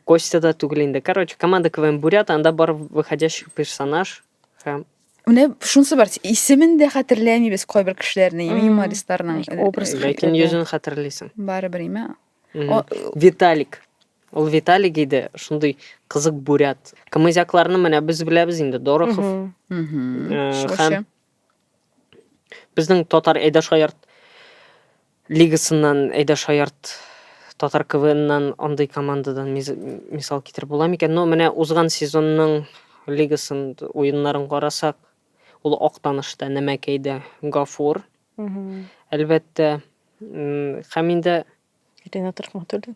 Костя да түгел инде. Короче, команда КВН Бурят, анда бар выходящий персонаж һәм Менә шунысы бар, исемен дә хәтерләмибез кайбер кешеләрне, юмористларның. Образ ләкин йөзен хәтерлисең. Барыбер име? Виталик. Ул Виталик иде, шундый кызык бурят. Камызякларны менә без беләбез инде, Дорохов. Һәм безнең татар Әйдә Шаярт лигасыннан Әйдә Шаярт татар КВНнан андый командадан мисал китереп була микән? Но менә узган сезонның лигасын уеннарын карасак, ул Актанышта, Нәмәкәйдә Гафур, Әлбәттә, һәм инде Ринат Рахматуллин.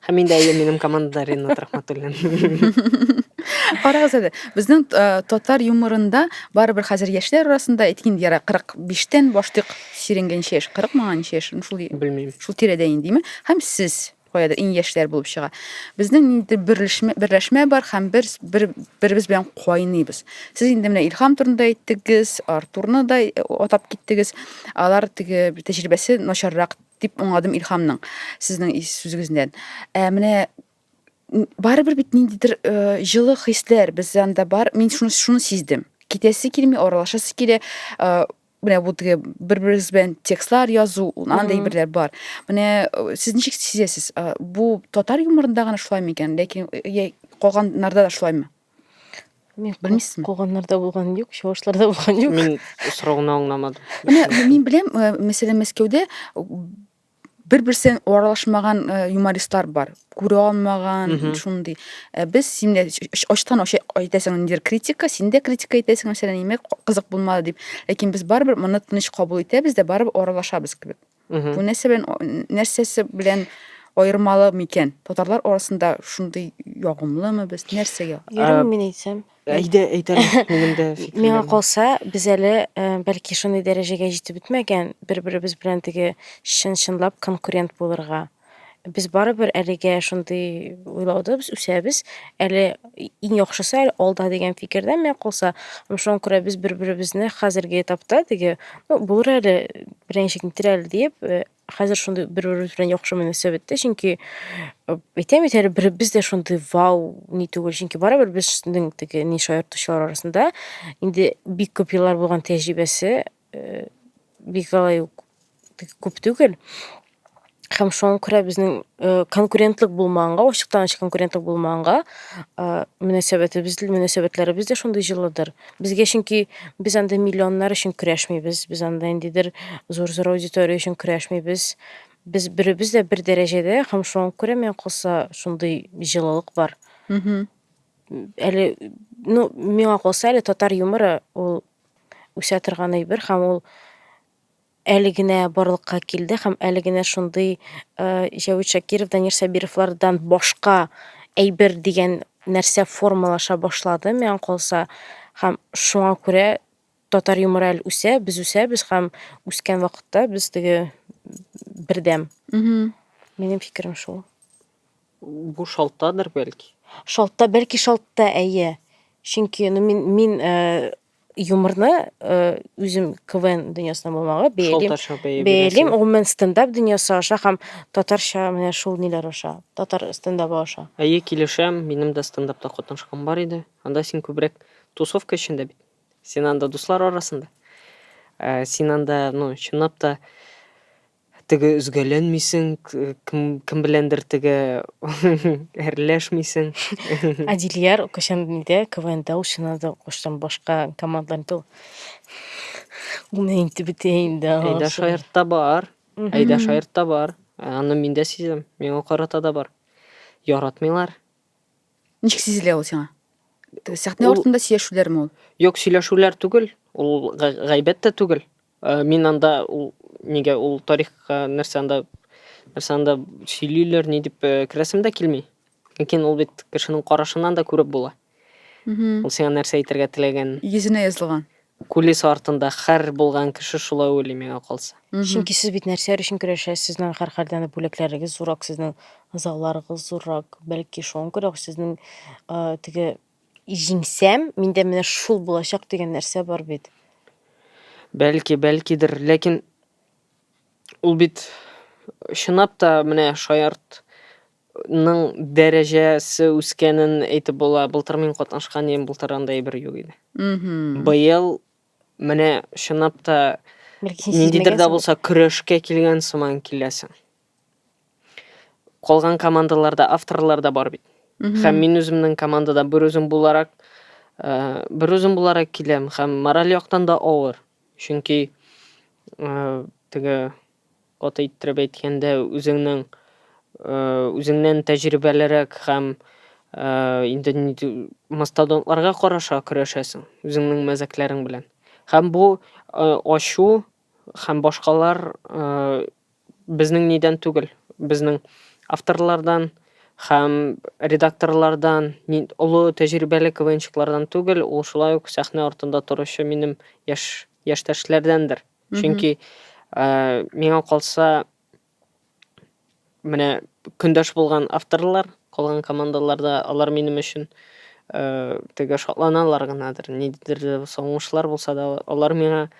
Һәм инде әйе, минем командада Ринат Рахматуллин. Карагыз әле, безнең татар юморында барыбер хәзер яшьләр арасында әйткән яра 45-тән башлыйк сиренгәнчә яшь, 40 манганча яшь, шул белмим. Шул тирәдә индиме? Һәм сез каядыр иң яшьләр булып чыга. Безнең инде берләшмә, берләшмә бар һәм бер, бер беребез белән кайныйбыз. Сез инде менә Илһам турында әйттегез, Артурны да э, атап киттегез. Алар теге тәҗрибәсе начаррак дип аңладым Илһамның сезнең сүзегездән. Ә менә барыбер бит ниндидер э, җылы хисләр без анда бар. Мин шуны шуны сиздем. Китәсе килми, аралашасы килә. Э, менә бу теге бер берегез белән текстлар язу андый берләр бар менә э, сез ничек сизәсез э, бу татар юморында гына шулай микән ләкин э, калганнарда да шулаймы Мин белмисезме калганнарда булган юк чавышларда булган юк мин сорауны аңламадым мин беләм мәсәлән мәскәүдә бер берсен аралашмаган э, юмористлар бар күрә алмаган шундый э, без син дә ачтан ачы әйтәсең ниндидер критика син дә критика әйтәсең мәсәлән нимә кызык булмады дип ләкин без барыбер моны тыныч кабул итәбез дә барыбер аралашабыз кебек бу нәрсә белән нәрсәсе белән аермалы микән татарлар арасында шундый ягымлымы без нәрсәгә ярый мин әйтсәм Әйдә, әйтәләр күңелдә фикерләр. Миңа калса, без әле э, бәлки шундый дәрәҗәгә җитеп бетмәгән, бер-беребез белән теге чын-чынлап конкурент булырга. Без барыбер әлегә шундый уйлауда без үсәбез. Әле иң яхшысы әле алда дигән фикердә миңа калса. Һәм шуңа күрә без бер-беребезне хәзерге этапта теге, ну, булыр әле, беренче китер әле диеп, э, хәзер шундый бер-беребез белән яхшы мөнәсәбәттә, чөнки әйтәм бит әле беребез дә шундый вау ни түгел, чөнки барыбер безнең теге ни шаяртучылар арасында инде бик күп еллар булган тәҗрибәсе э, бик алай ук күп түгел. Һәм шуңа күрә безнең э, конкурентлык булмаганга, ачыктан-ачык конкурентлык булмаганга, э, мөнәсәбәтебез, мөнәсәбәтләребез дә шундый җылыдыр. Безгә чөнки без анда миллионнар өчен көрәшмибез, без анда ниндидер зур-зур аудитория өчен көрәшмибез. Без беребез дә бер дәрәҗәдә һәм шуңа күрә миңа калса шундый җылылык бар. Мгм. Әле, ну, миңа калса әле татар юморы ул үсә торган әйбер һәм ул әле генә барлыкка килде һәм әле генә шундый Җәвит Шакиров, Данир Сабировлардан башка әйбер дигән нәрсә формалаша башлады, миңа калса, һәм шуңа күрә татар юморы әле үсә, без үсәбез һәм үскән вакытта без теге бердәм. Минем фикерем шул. Бу шалтадыр бәлки. Шалтта, бәлки шалтта, әйе. Чөнки ну, мин, мин э, юморны э, үзем квн дөньясына булмагы бәялим бәялим гомумән стендап дөньясы аша һәм татарча менә шул ниләр аша татар стендабы аша әйе килешәм минем дә стендапта катнашкан бар иде анда син күбрәк тусовка эчендә бит син анда дуслар арасында ә, син анда ну чынлап та Теге өзгәләнмисең, кем беләндер теге әрләшмисең. Адилияр кайчан нидә КВНда учынады, кайчан башка командаларда. Уны инде бетә инде. Әйдә шаяртта бар. Әйдә шаяртта бар. Аны мин дә сизәм. Миңа карата да бар. Яратмыйлар. Ничек сизелә ул сиңа? Сәхнә артында сөйләшүләрме ул? Юк, сөйләшүләр түгел. Ул гайбәт тә түгел. Мин анда ул нигә ул тарихка нәрсә анда нәрсә анда сөйлиләр ни дип э, керәсем дә килми. Ләкин ул бит кешенең карашыннан да күреп була. Ул сиңа нәрсә әйтергә теләгән. Йөзенә язылган. Кулис артында хәр булган кеше шулай уйлый миңа калса. Чөнки сез бит нәрсәләр өчен көрәшәсез, сезнең һәрхәлдән дә бүләкләрегез зуррак, сезнең зауларыгыз зуррак, бәлки шуңа күрә сезнең э, теге Җиңсәм, миндә менә шул булачак дигән нәрсә бар бит. Бәлки, бәлкидер, ләкин ул бит чынлап та менә шаяртның дәрәҗәсе үскәнен әйтеп була. Былтыр мин катнашкан идем, былтыр анда әйбер юк иде. Мгм. Быел менә чынлап та Бәлки син ниндидер дә сизмәгәнсеңдер. булса көрәшкә килгән сыман киләсең. Калган командаларда авторлар да бар бит. Һәм мин үземнең командада бер үзем буларак, э, бер үзем буларак киләм һәм мораль яктан да авыр. Чөнки э, теге каты иттереп әйткәндә үзеңнең э, үзеңнән тәҗрибәлерәк һәм э, инде нинди мастодонтларга караша көрәшәсең үзеңнең мәзәкләрең белән. Һәм бу э, ачу һәм башкалар э, Безнең нидән түгел, безнең авторлардан һәм редакторлардан, нинд олы тәҗрибәле КВНчыклардан түгел, ул шулай ук сәхнә артында торучы минем яшь яшьтәшләрдәндер. Чөнки, э, миңа калса, менә көндәш булган авторлар, калган командаларда алар минем өчен, э, теге шатланалар гынадыр, ниндидер дә булса уңышлар булса да, алар миңа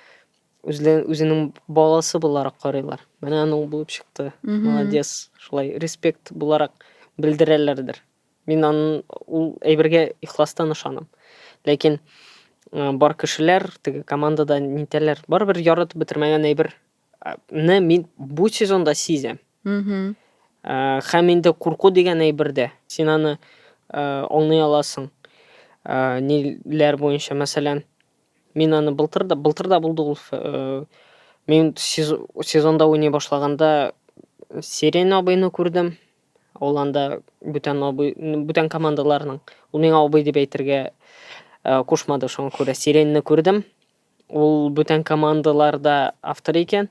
үзләрен үзенең баласы буларак карыйлар. Менә аның булып чыкты. Молодец. Шулай респект буларак белдерәләрдер. Мин аның ул әйбергә ихластан ышанам. Ләкин э, бар кешеләр теге командада нитәләр? Барыбер яратып бетермәгән әйбер не мин бу сезонда сизәм. Э, һәм инде курку дигән әйбердә син аны э, аңлый аласың. Э, ниләр буенча, мәсәлән, Мин аны былтыр да, былтыр да булды ул. Э, мин сезонда уйный башлаганда Сирен абыйны күрдем. Ул анда бүтән абый, бүтән командаларның. Ул миңа абый дип әйтергә э, кушмады, шуңа күрә Сиренны күрдем. Ул бүтән командаларда автор икән.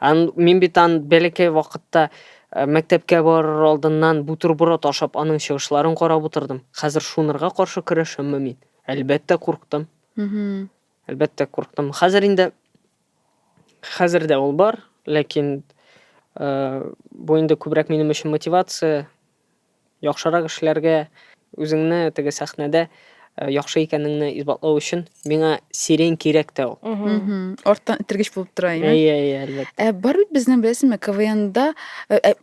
Ан, мин бит ан бәләкәй вакытта э, мәктәпкә барыр алдыннан бутерброд ашап аның чыгышларын карап утырдым. Хәзер шунырга каршы көрәшәмме мин? Әлбәттә курктым. Мгм. Әлбәттә курктым. Хәзер инде хәзер дә ул бар, ләкин э, бу инде күбрәк минем өчен мотивация, Яхшырак эшләргә, үзеңне теге сәхнәдә э, яхшы икәнеңне исбатлау өчен миңа сирень кирәк тә ул. Мгм. Арттан этергеч булып тора, әйме? Әйе, әйе, әлбәттә. Ә бар бит безнең беләсеңме, КВНда э, э,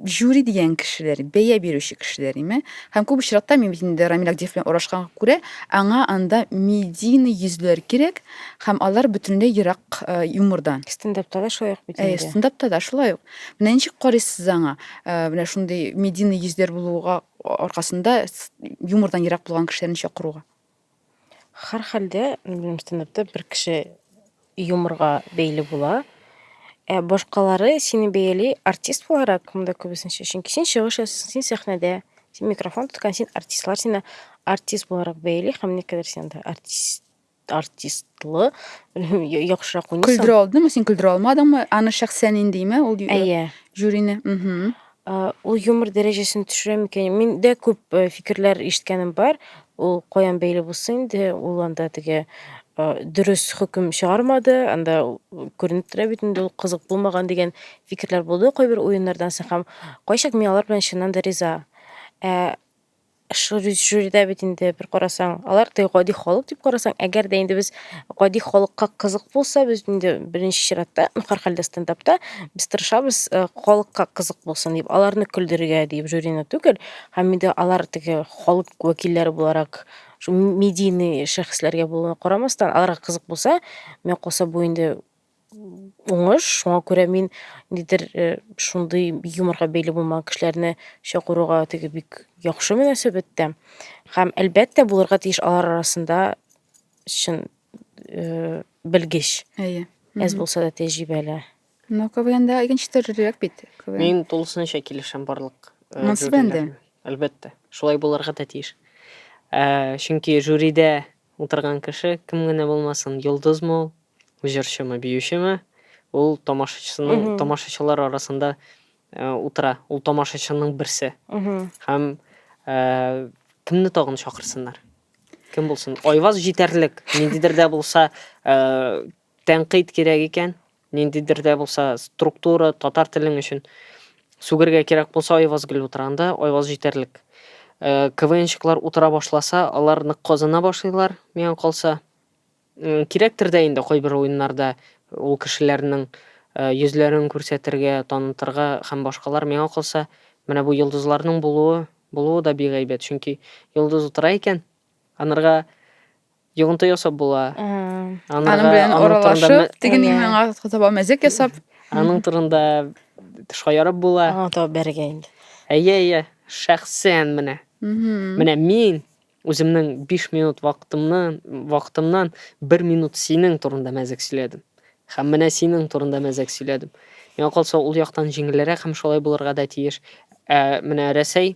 жюри дигән кешеләр, бәя бирүче кешеләр, әйме? Һәм күп очракта мин бит инде Рамил Агдиев белән урашканга күрә, аңа анда медийный йөзләр кирәк, һәм алар бөтенләй ерак э, юмордан. Стендапта да шулай ук бит Әйе, инде. стендапта да шулай ук. Менә ничек карыйсыз аңа? Э, менә шундый медийный йөзләр булуга аркасында юмордан ерак булган кешеләрне чакыруга. Хар хәлдә, минем стендапта бер кеше юморга бәйле була. Ә башкалары сине бәяли артист буларак, монда күбесенчә. Чөнки син чыгыш ясыйсың, син сәхнәдә, син микрофон тоткан, син артистлар сине артист буларак бәяли һәм никадәр син артист артистлы яхшырак уйныйсың. Көлдерә алдымы, син көлдерә алмадыңмы? Аны шәхсән индеме ул Әйе. жюрины? Мгм. Э, ул юмор дәрәҗәсен төшерә микән? Миндә күп э, фикерләр ишеткәнем бар. Ул каян бәйле булсын инде, ул анда теге э, дөрес хөкем чыгармады, анда күренеп тора бит инде ул кызык булмаган дигән фикерләр булды кайбер уеннардан соң һәм кайчак мин алар белән чыннан да риза. Ә Шул җирдә бит инде бер карасаң, алар да гади халык дип карасаң, әгәр дә инде без гади халыкка кызык булса, без инде беренче чиратта, ну, һәрхәлдә стендапта без тырышабыз, э, халыкка кызык булсын дип, аларны көлдерергә дип жюрины түгел, һәм инде алар теге халык вәкилләре буларак, шул медийный шәхесләргә булуына карамастан, аларга кызык булса, миңа калса, бу инде уңыш. Шуңа күрә мин ниндидер э, шундый юморга бәйле булмаган кешеләрне чакыруга теге бик яхшы мөнәсәбәттә. Һәм әлбәттә булырга тиеш алар арасында чын э, белгеч. Әйе. Әз булса да тәҗрибәле. Но КВНда икенче төрлерәк бит. КВН. Мин тулысынча килешәм барлык. э, Монсы жюрилар бәндә. белән. Әлбәттә, шулай булырга да тиеш. Ә, чөнки жюрида Утырган кеше, кем генә булмасын, йолдызмы ул, җырчымы, биючеме, ул тамашачысының, тамашачылар арасында утыра, ул тамашачының берсе. Һәм кемне тагын чакырсыннар? Кем булсын? Айваз җитәрлек, ниндидер дә булса, Тәнкыйть кирәк икән, ниндидер дә булса структура, татар телең өчен сүгергә кирәк булса, Айваз гел утыра анда, Айваз җитәрлек. КВНщиклар утыра башласа, алар нык казына башлыйлар, миңа калса. Кирәктер дә инде кайбер уеннарда ул кешеләрнең йөзләрен күрсәтергә, танытырга һәм башкалар. Миңа калса, менә бу йолдызларның булуы, булуы да бик әйбәт, чөнки йолдыз утыра икән, анырга Йогынты ясап була. Аның белән аралашып, тегенең миңа таба мәзәк ясап. Аның турында шаярып була. Аңа таба бәргә инде. Әйе, әйе, шәхсән менә. Менә мин үземнең 5 минут вакытымнан, вакытымнан 1 минут синең турында мәзәк сөйләдем. Һәм менә синең турында мәзәк сөйләдем. Миңа калса, ул яктан җиңелрәк һәм шулай булырга да тиеш. Ә менә Рәсәй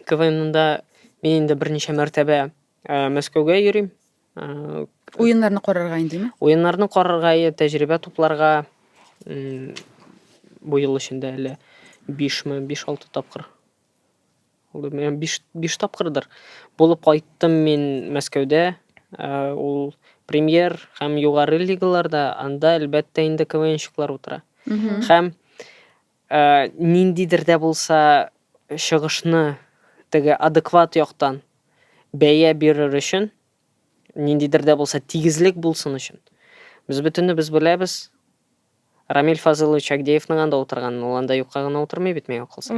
КВНда мин инде берничә мәртәбә э, Мәскәүгә йөрим. Э, Уеннарны карарга индеме? Уеннарны карарга, е, тәҗрибә тупларга м, бу ел эчендә әле 5 ме, 5-6 тапкыр. Ул да менә 5 5 тапкырдыр. Булып кайттым мин Мәскәүдә. Э, Ул премьер һәм югары лигаларда, анда әлбәттә инде КВНщиклар утыра. Һәм Ә ниндидер дә булса чыгышны теге адекват яктан бәя бирер өчен, ниндидер дә булса тигезлек булсын өчен, без бөтенебез беләбез, Рамил Фазылович Агдеевның анда утырганын, ул анда юкка гына утырмый бит, миңа калса.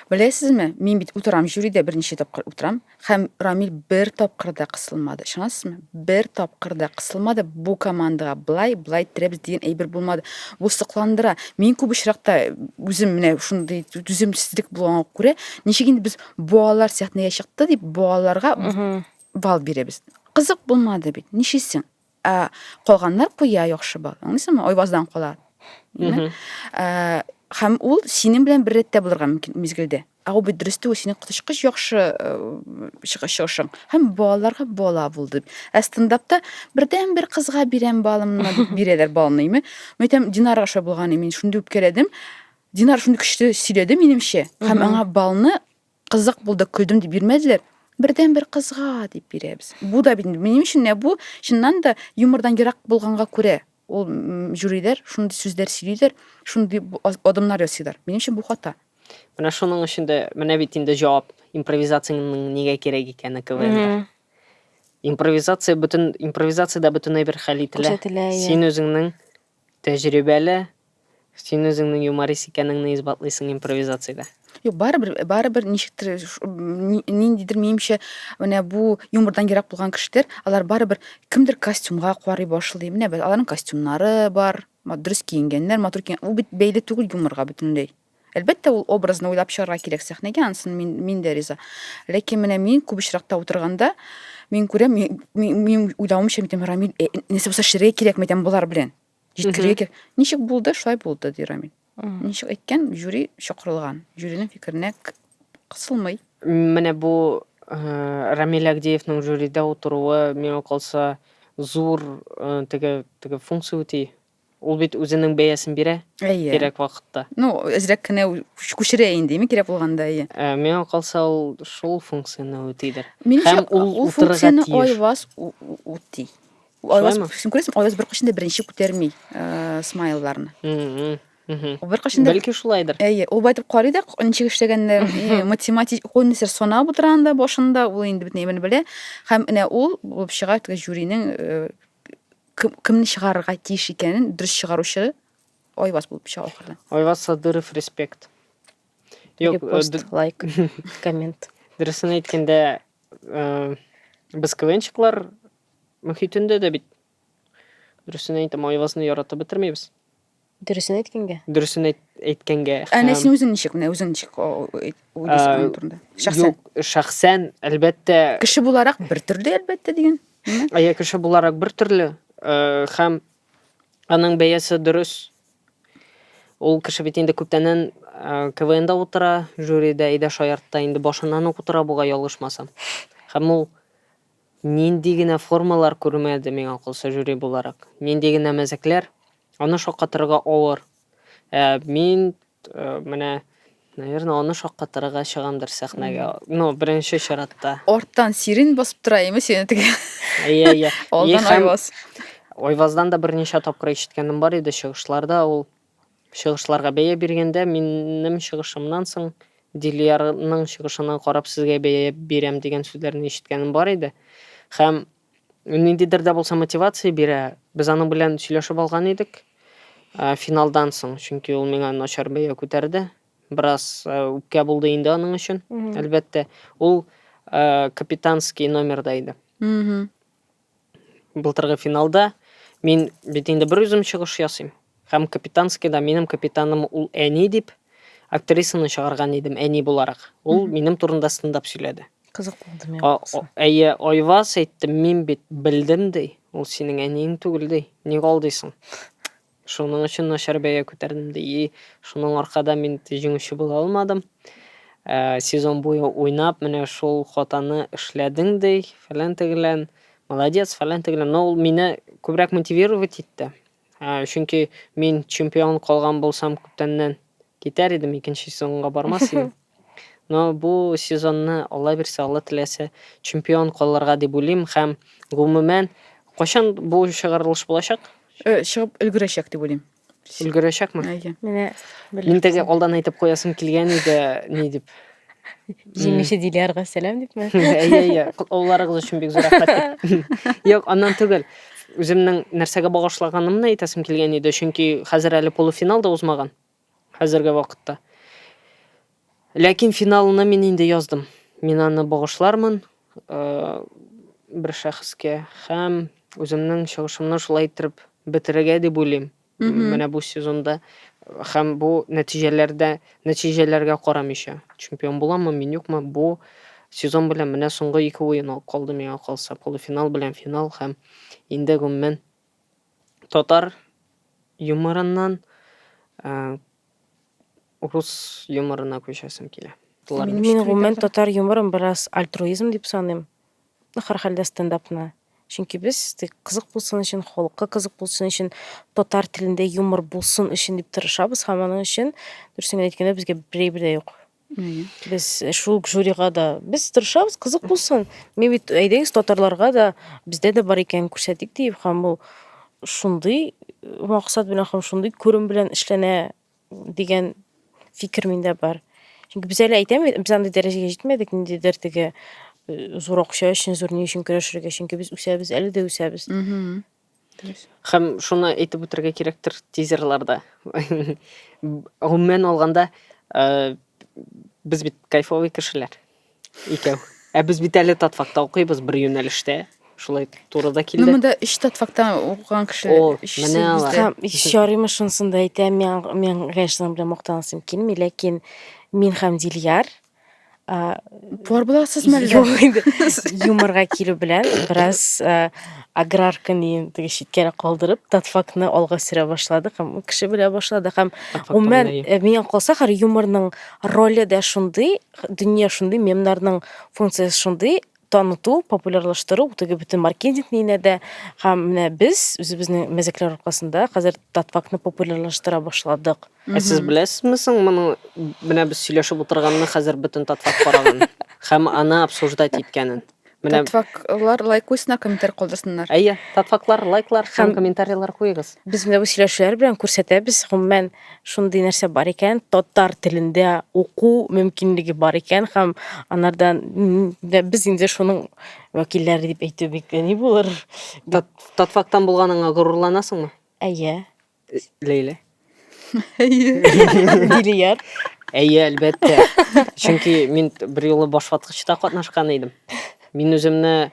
Беләсезме, мин бит утырам, жюридә берничә тапкыр утырам. Һәм Рамил бер тапкыр да кысылмады. Ышанасызмы? Бер тапкыр да кысылмады. Бу командага блай, блай терәбез дигән әйбер булмады. Бу сокландыра. Мин күп очракта үзем менә шундый түземсезлек булганга күрә, ничек инде без балалар сәхнәгә чыкты дип балаларга бал бирәбез. Кызык булмады бит. Ничесен? Ә калганнар куя яхшы бал. Аңлыйсыңмы? Айваздан кала. Ә, һәм ул синең белән бер рәттә булырга мөмкин мизгелдә. Ә ул бит дөрес түгел, синең коточкыч яхшы э, чыгыш чыгышың. Һәм балаларга бала булды. Ә стендапта бердән бер кызга бирәм балымны дип бирәләр балны, име? Мин әйтәм, Динарга шулай булган, мин шундый үпкәләдем. Динар шундый көчле сөйләде минемчә, һәм аңа балны Кызык булды, көлдем дип бирмәделәр. Бердән бер кызга дип бирәбез. Бу да бит минем өчен дә бу чыннан да юмордан ерак булганга күрә ул жюриләр шундый сүзләр сөйлиләр, шундый адымнар ясыйлар. Минем өчен бу хата. Менә шуның өчен дә менә бит инде җавап импровизацияның нигә кирәк икәне КВНда. Импровизация бөтен импровизациядә бөтенләй бер хәл ителә. Син үзеңнең Тәҗрибәле. Син үзеңнең юморист икәнеңне исбатлыйсың импровизациядә. Юк, барыбер, барыбер ничектер ниндидер минемчә, менә бу юмордан ерак булган кешеләр, алар барыбер кемдер костюмга карый башлый. Менә аларның костюмнары бар, дөрес киенгәннәр, матур киенгән. Ул бит бәйле түгел юморга бөтенләй. Әлбәттә, ул образны уйлап чыгарга кирәк сәхнәгә, ансын мин, мин дә риза. Ләкин менә мин күп очракта утырганда, мин күрәм, мин, мин, мин уйлавымча, мин әйтәм, Рамил, э, нәрсә булса шерегә кирәк, мәйтәм, болар белән. Җиткерергә кирәк. Ничек булды, шулай булды, ди Рамил. Ничек әйткән, жюри чакырылган. Жюриның фикеренә кысылмый. Менә бу э, Рамил Агдеевның жюрида утыруы, миңа калса, зур э, теге, теге функция үти. Ул бит үзенең бәясен бирә. Әйе. Кирәк вакытта. Ну, әзрәк кенә күчерә инде, ми кирәк булганда, әйе. Ә, миңа калса, ул шул функцияне үтидер. Һәм ул утырырга тиеш. Ул айваз үти. Айваз, син күрәсең, айваз беркайчан да беренче күтәрми э, смайлларны. Беркайчан да Бәлки шулайдыр. Әйе, ул байтып карый да, ничек эшләгәннәр, математик, ул нәрсә санап утыра анда башында, ул инде бөтен әйберне белә. Һәм менә ул булып чыга, теге жюринең э, Кем, кемне чыгарырга тиеш икәнен дөрес чыгаручы Айваз булып чыга ахырдан. Айваз Садыров респект. Юк, э, Репост, д- лайк, коммент. дөресен әйткәндә, э, без КВНчиклар мөхитендә дә бит дөресен әйтәм, Айвазны яратып бетермибез. Дөресен әйткәнгә. Дөресен әйт, әйткәнгә. Әнә һәм- син үзең ничек, менә үзең ничек о- о- әйт- уйлыйсың Ә, аның турында? Шәхсән. Юк, шәхсән, әлбәттә, Кеше буларак бер төрле, әлбәттә, диген. әйе, кеше буларак бер төрле, э, һәм аның бәясе дөрес. Ул кеше бит инде күптәннән э, КВНда утыра, жюрида, Идә Шаяртта инде башыннан ук утыра бугай, ялгышмасам. Һәм ул Нинди генә формалар күрмәде, миңа калса, жюри буларак. Нинди генә мәзәкләр. Аны шаккатырырга авыр. Ә мин менә, наверное, аны шаккатырырга чыгамдыр сәхнәгә. Ну, беренче чиратта. Арттан сирень басып тора име сине теге? Әйе, әйе. Алдан Айваз. Айваздан да берничә тапкыр ишеткәнем бар иде чыгышларда. Ул Чыгышларга бәя биргәндә, минем чыгышымнан соң Дилиярның чыгышына карап сезгә бәя бирәм дигән сүзләрне ишеткәнем бар иде. Һәм ул ниндидер дә булса мотивация бирә. Без аның белән сөйләшеп алган идек финалдан соң, чөнки ул миңа начар бәя күтәрде. Бераз үпкә булды инде аның өчен, әлбәттә. Ул капитанский номерда иде. Былтыргы финалда мин бит инде берүзем чыгыш ясыйм. Һәм Капитанскийда минем капитаным ул әни дип актрисаны чыгарган идем, әни буларак. Ул минем турында стендап сөйләде. Кызык булды миңа. Әйе, Айваз әйтте, мин бит белдем, ди. Ул синең әниең түгел, ди. Ник алдыйсың? Шуның өчен начар бәя күтәрдем ди. И, шуның аркада мин җиңүче була алмадым. Ә, сезон буе уйнап, менә шул хатаны эшләдең ди, фәлән тегелән. Молодец, фәлән тегелән. Но ул мине күбрәк мотивировать итте. Ә, чөнки мин чемпион калган булсам, күптәннән китәр идем, икенче сезонга бармас идем. Но бу сезонны, Алла бирсә, Алла теләсә, чемпион калырга дип уйлыйм һәм гомумән кайчан бу чыгарылыш булачак? Э, чыгып өлгерәчәк дип уйлыйм. Өлгерәчәкме? Әйе. Менә Мин теге алдан әйтеп куясым килгән иде, ни дип. Җиңүче Дилярга сәлам дипме? Әйе, әйе. Котлауларыгыз өчен бик зур рәхмәт. Юк, аннан түгел. Үземнең нәрсәгә багышлаганымны әйтәсем килгән иде, чөнки хәзер әле полуфинал да узмаган. Хәзерге вакытта. Ләкин финалны мин инде яздым. Мин аны багышлармын бер шәхескә һәм үземнең чыгышымны шулай иттереп бетерергә дип уйлыйм. Менә бу сезонда һәм бу нәтиҗәләрдә, нәтиҗәләргә карамыйча, чемпион буламы, мин юкмы, бу сезон белән менә соңгы ике уен калды миңа калса, полуфинал белән финал һәм инде гомумән татар юморыннан э, рус юморына күчәсем килә. Мин, мин гомумән татар юморын бераз альтруизм дип саныйм. Ну, һәрхәлдә стендапны. Чөнки без тик кызык булсын өчен, халыкка кызык булсын өчен, татар телендә юмор булсын өчен дип тырышабыз һәм аның өчен, дөресен генә әйткәндә, безгә берәй бер дә юк. Без шул ук жюрига да без тырышабыз, кызык булсын. Мин бит әйдәгез татарларга да бездә дә бар икән күрсәтик дип һәм ул шундый максат белән һәм шундый күрем белән эшләнә дигән фикер миндә бар. Чөнки без әле әйтәбез, без андый дәрәҗәгә җитмәдек, ниндидер теге э, зур акча өчен, зур ни өчен көрәшергә, чөнки без үсәбез, әле дә үсәбез. Хәм шуны әйтеп үтергә кирәктер тизерларда. Гомумән алганда, э, без бит кайфовый кешеләр. Икәү. Ә без бит әле татфакта укыйбыз бер юнәлештә. Шулай туры да килде. Ну, монда өч татфактан укыган кеше. О, менә алар. Хәм Шарима шунысын да әйтә, мин, мин, конечно, белән мактанасым килми, ләкин мин һәм Дильяр, Пор буласызмы әллә? Юк инде. Юморга килү белән бераз аграрка дигән теге читкәрәк калдырып, татфакны алга сөрә башладык һәм кеше белә башладык һәм гомумән миңа калса хәр юморның роле дә шундый, дөнья шундый, мемнарның функциясе шундый, таныту, популярлаштыру, ул теге бөтен маркетингны инәдә. Һәм менә без үзебезнең мәзәкләр аркасында хәзер татфакны популярлаштыра башладык. Ә сез беләсезме соң моны менә без сөйләшеп утырганны хәзер бөтен татфак караган һәм аны обсуждать иткәнен? Менә Татфаклар лайк куйсыннар, комментарий калдырсыннар. Әйе, татфаклар лайклар һәм комментарийлар куегыз. Без менә бу сөйләшүләр белән күрсәтәбез, гомумән, шундый нәрсә бар икән, татар телендә уку мөмкинлеге бар икән һәм анардан без инде шуның вәкилләре дип әйтү бик ни булыр. Татфактан булганыңа горурланасыңмы? Әйе. Лейлә. Әйе. Дилияр. Әйе, әлбәттә. Чөнки мин бер юлы башваткычта катнашкан идем. Мин үземне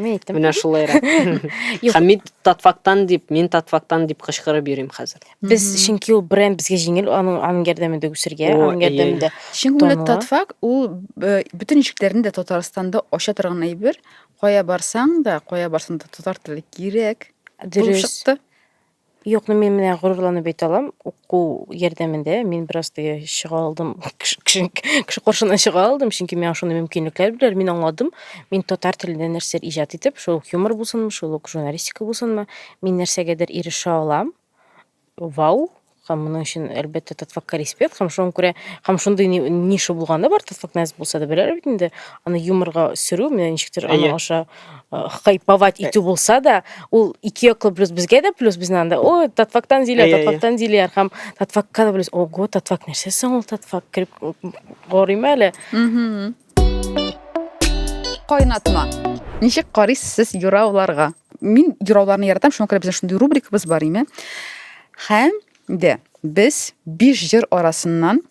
Мин әйттем. Менә шулайрак. Һәм мин татфактан дип, мин татфактан дип кычкырып йөрим хәзер. Без чөнки ул бренд безгә җиңел, аның аның ярдәмендә үсергә, О, аның ярдәмендә. Чөнки ул татфак ул э, бөтен ишекләрне дә Татарстанда ача торган әйбер. Кая барсаң да, кая барсаң да татар теле кирәк. Дөрес. Чыкты. Юк, ну мин менә горурланып әйтә алам, уку ярдәмендә мин бераз теге чыга алдым, кеше кеше каршына чыга алдым, чөнки миңа шундый мөмкинлекләр бирделәр, мин аңладым, мин татар телендә нәрсәдер иҗат итеп, шул ук юмор булсынмы, шул ук журналистика булсынмы, мин нәрсәгәдер ирешә алам. Вау! Һәм моның өчен, әлбәттә, Татфакка респект. Һәм шуңа күрә, һәм шундый ни- ниша булганы бар, Татфак нәзб булса да, беләләр бит инде, аны юморга сөрү, менә ничектер Әйе. аның аша хайповать э. итү булса да ул ике яклы плюс безгә дә плюс безнең анда ой татфактан диләр э, э, татфактан диләр һәм татфакка да плюс ого татфак нәрсә соң ул татфак кереп карыйм әле кайнатма ничек карыйсыз сез юрауларга мин юрауларны яратам шуңа күрә безнең шундый рубрикабыз бар име һәм дә без биш җыр арасыннан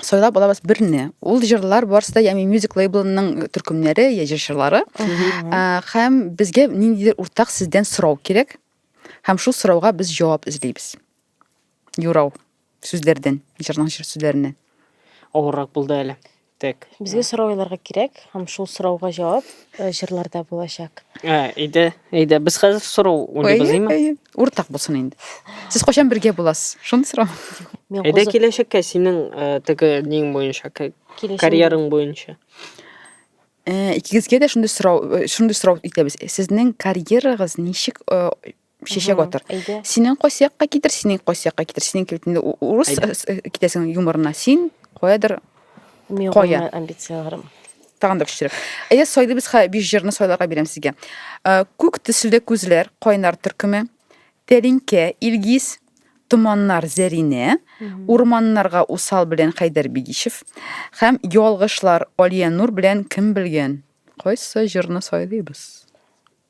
сайлап алабыз берне ул җырлар барысы да ями мюзик лейблының төркемнәре я җырчылары һәм безгә ниндидер уртак сездән сорау кирәк һәм шул сорауга без җавап эзлибез юрау сүзләрдән җырның җыр сүзләреннән авыррак булды әле так безгә сорау кирәк һәм шул сорауга җавап э, җырларда булачак. Ә, әйдә, әйдә, без хәзер сорау уйнабыз, әйме? Әйе, әйе. Уртак булсын инде. Сез кайчан бергә буласыз? Шуны сорау. Мин Әйдә кузы- киләчәккә синең э, теге нең буенча, ка- киләчәк- карьераң буенча. Э, Икегезгә дә шундый сорау, э, шундый сорау итәбез. Сезнең карьерагыз ничек э, шешә батыр. Синең кайсы якка китер, синең кайсы якка китер, синең китер. Урыс э, э, китәсең юморына. Син каядыр кая. Амбицияләрем. Тагын да көчлерәк. Әйдә сайлый без хә биш җырны сайларга бирәм сезгә. Э, күк төсле күзләр, кайнар төркеме, Тәлинкә, Илгиз, Томаннар Зәринә, Урманнарга усал белән Хәйдәр Бигишев һәм Ялгышлар Алия Нур белән кем белгән? Кайсы җырны сайлыйбыз?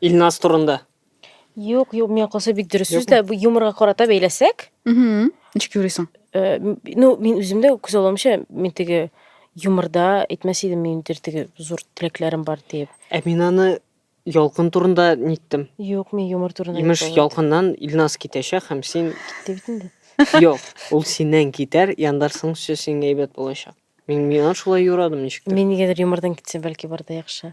Илназ турында. Юк, юк, миңа калса бик дөрес сүз дә, бу юморга карата бәйләсәк. Угу. Ничек юрисың? Э, ну, мин үзем дә күз аламча, мин теге юморда әйтмәс идем, мин теге зур теләкләрем бар диеп. Ә мин аны Ялкын турында ниттем. Юк, мин юмор турында. Имеш, ялкыннан Илназ китәчәк һәм син китте бит инде. Юк, ул синнән китәр, яндарсың сөй сиңа әйбәт булачак. Мин миңа шулай юрадым ничек. Мин нигәдер юмордан китсә бәлки барда яхшы.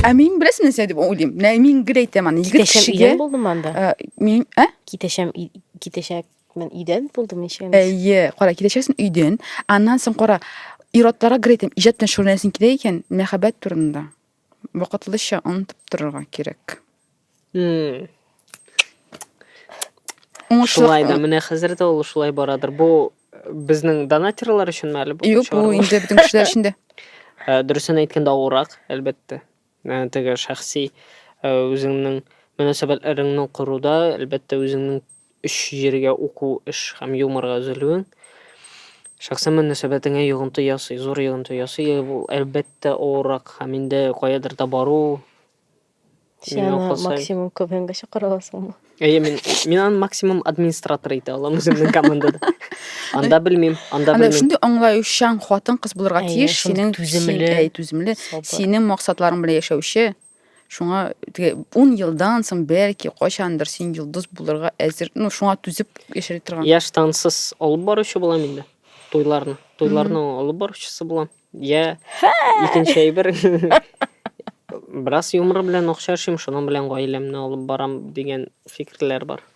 Ә мин беләсең нәрсә дип уйлыйм. Менә мин гел әйтәм аны. Егет Китәшәм кешегә идән булдым анда. Ә, мин, ә? Китәшәм, и- китәшәкмен идән булдым ничә мисс. Әйе, кара, китәчәксең өйдән. Аннан соң кара, ир-атларга гел әйтәм, иҗат белән шөгыльләнәсең килә икән, мәхәббәт турында. Вакытлыча онытып торырга кирәк. М. Уңышлык- Шулай да менә хәзер дә ул шулай барадыр. Бу э, безнең донатерлар өченме әле бу? Юк, бу чыгарылыш? инде бөтен кешеләр өчен дә. Ә, Дөресен әйткәндә авыррак, әлбәттә. Ә, Теге шәхси ә, үзеңнең мөнәсәбәтләреңне коруда, әлбәттә, үзеңнең Өч җиргә уку, эш һәм юморга өзелүең шәхсән мөнәсәбәтеңә йогынты ясый, зур йогынты ясый. Ул, әлбәттә, авыррак һәм инде каядыр да бару. Син Мин аны укыл сайын- максимум КВНга чакыра аласыңмы? Әйе, мин, мин аны максимум администратор итә алам үземнең командада. Анда белмим, анда Анда белмим. шундый аңлаючан хатын-кыз булырга Әйе, тиеш, шундый синең түземле, син- әй, түземле, сабыр. синең максатларың белән яшәүче, Шуңа теге 10 елдан соң бәлки кайчандыр син йолдыз булырга әзер, ну шуңа түзеп яшәр торган. Я штансыз алып баручы булам инде. Туйларны. Туйларны алып баручысы булам. Я икенче әйбер. Бераз юмор белән акча эшлим, шуның белән гаиләмне алып барам дигән фикерләр бар.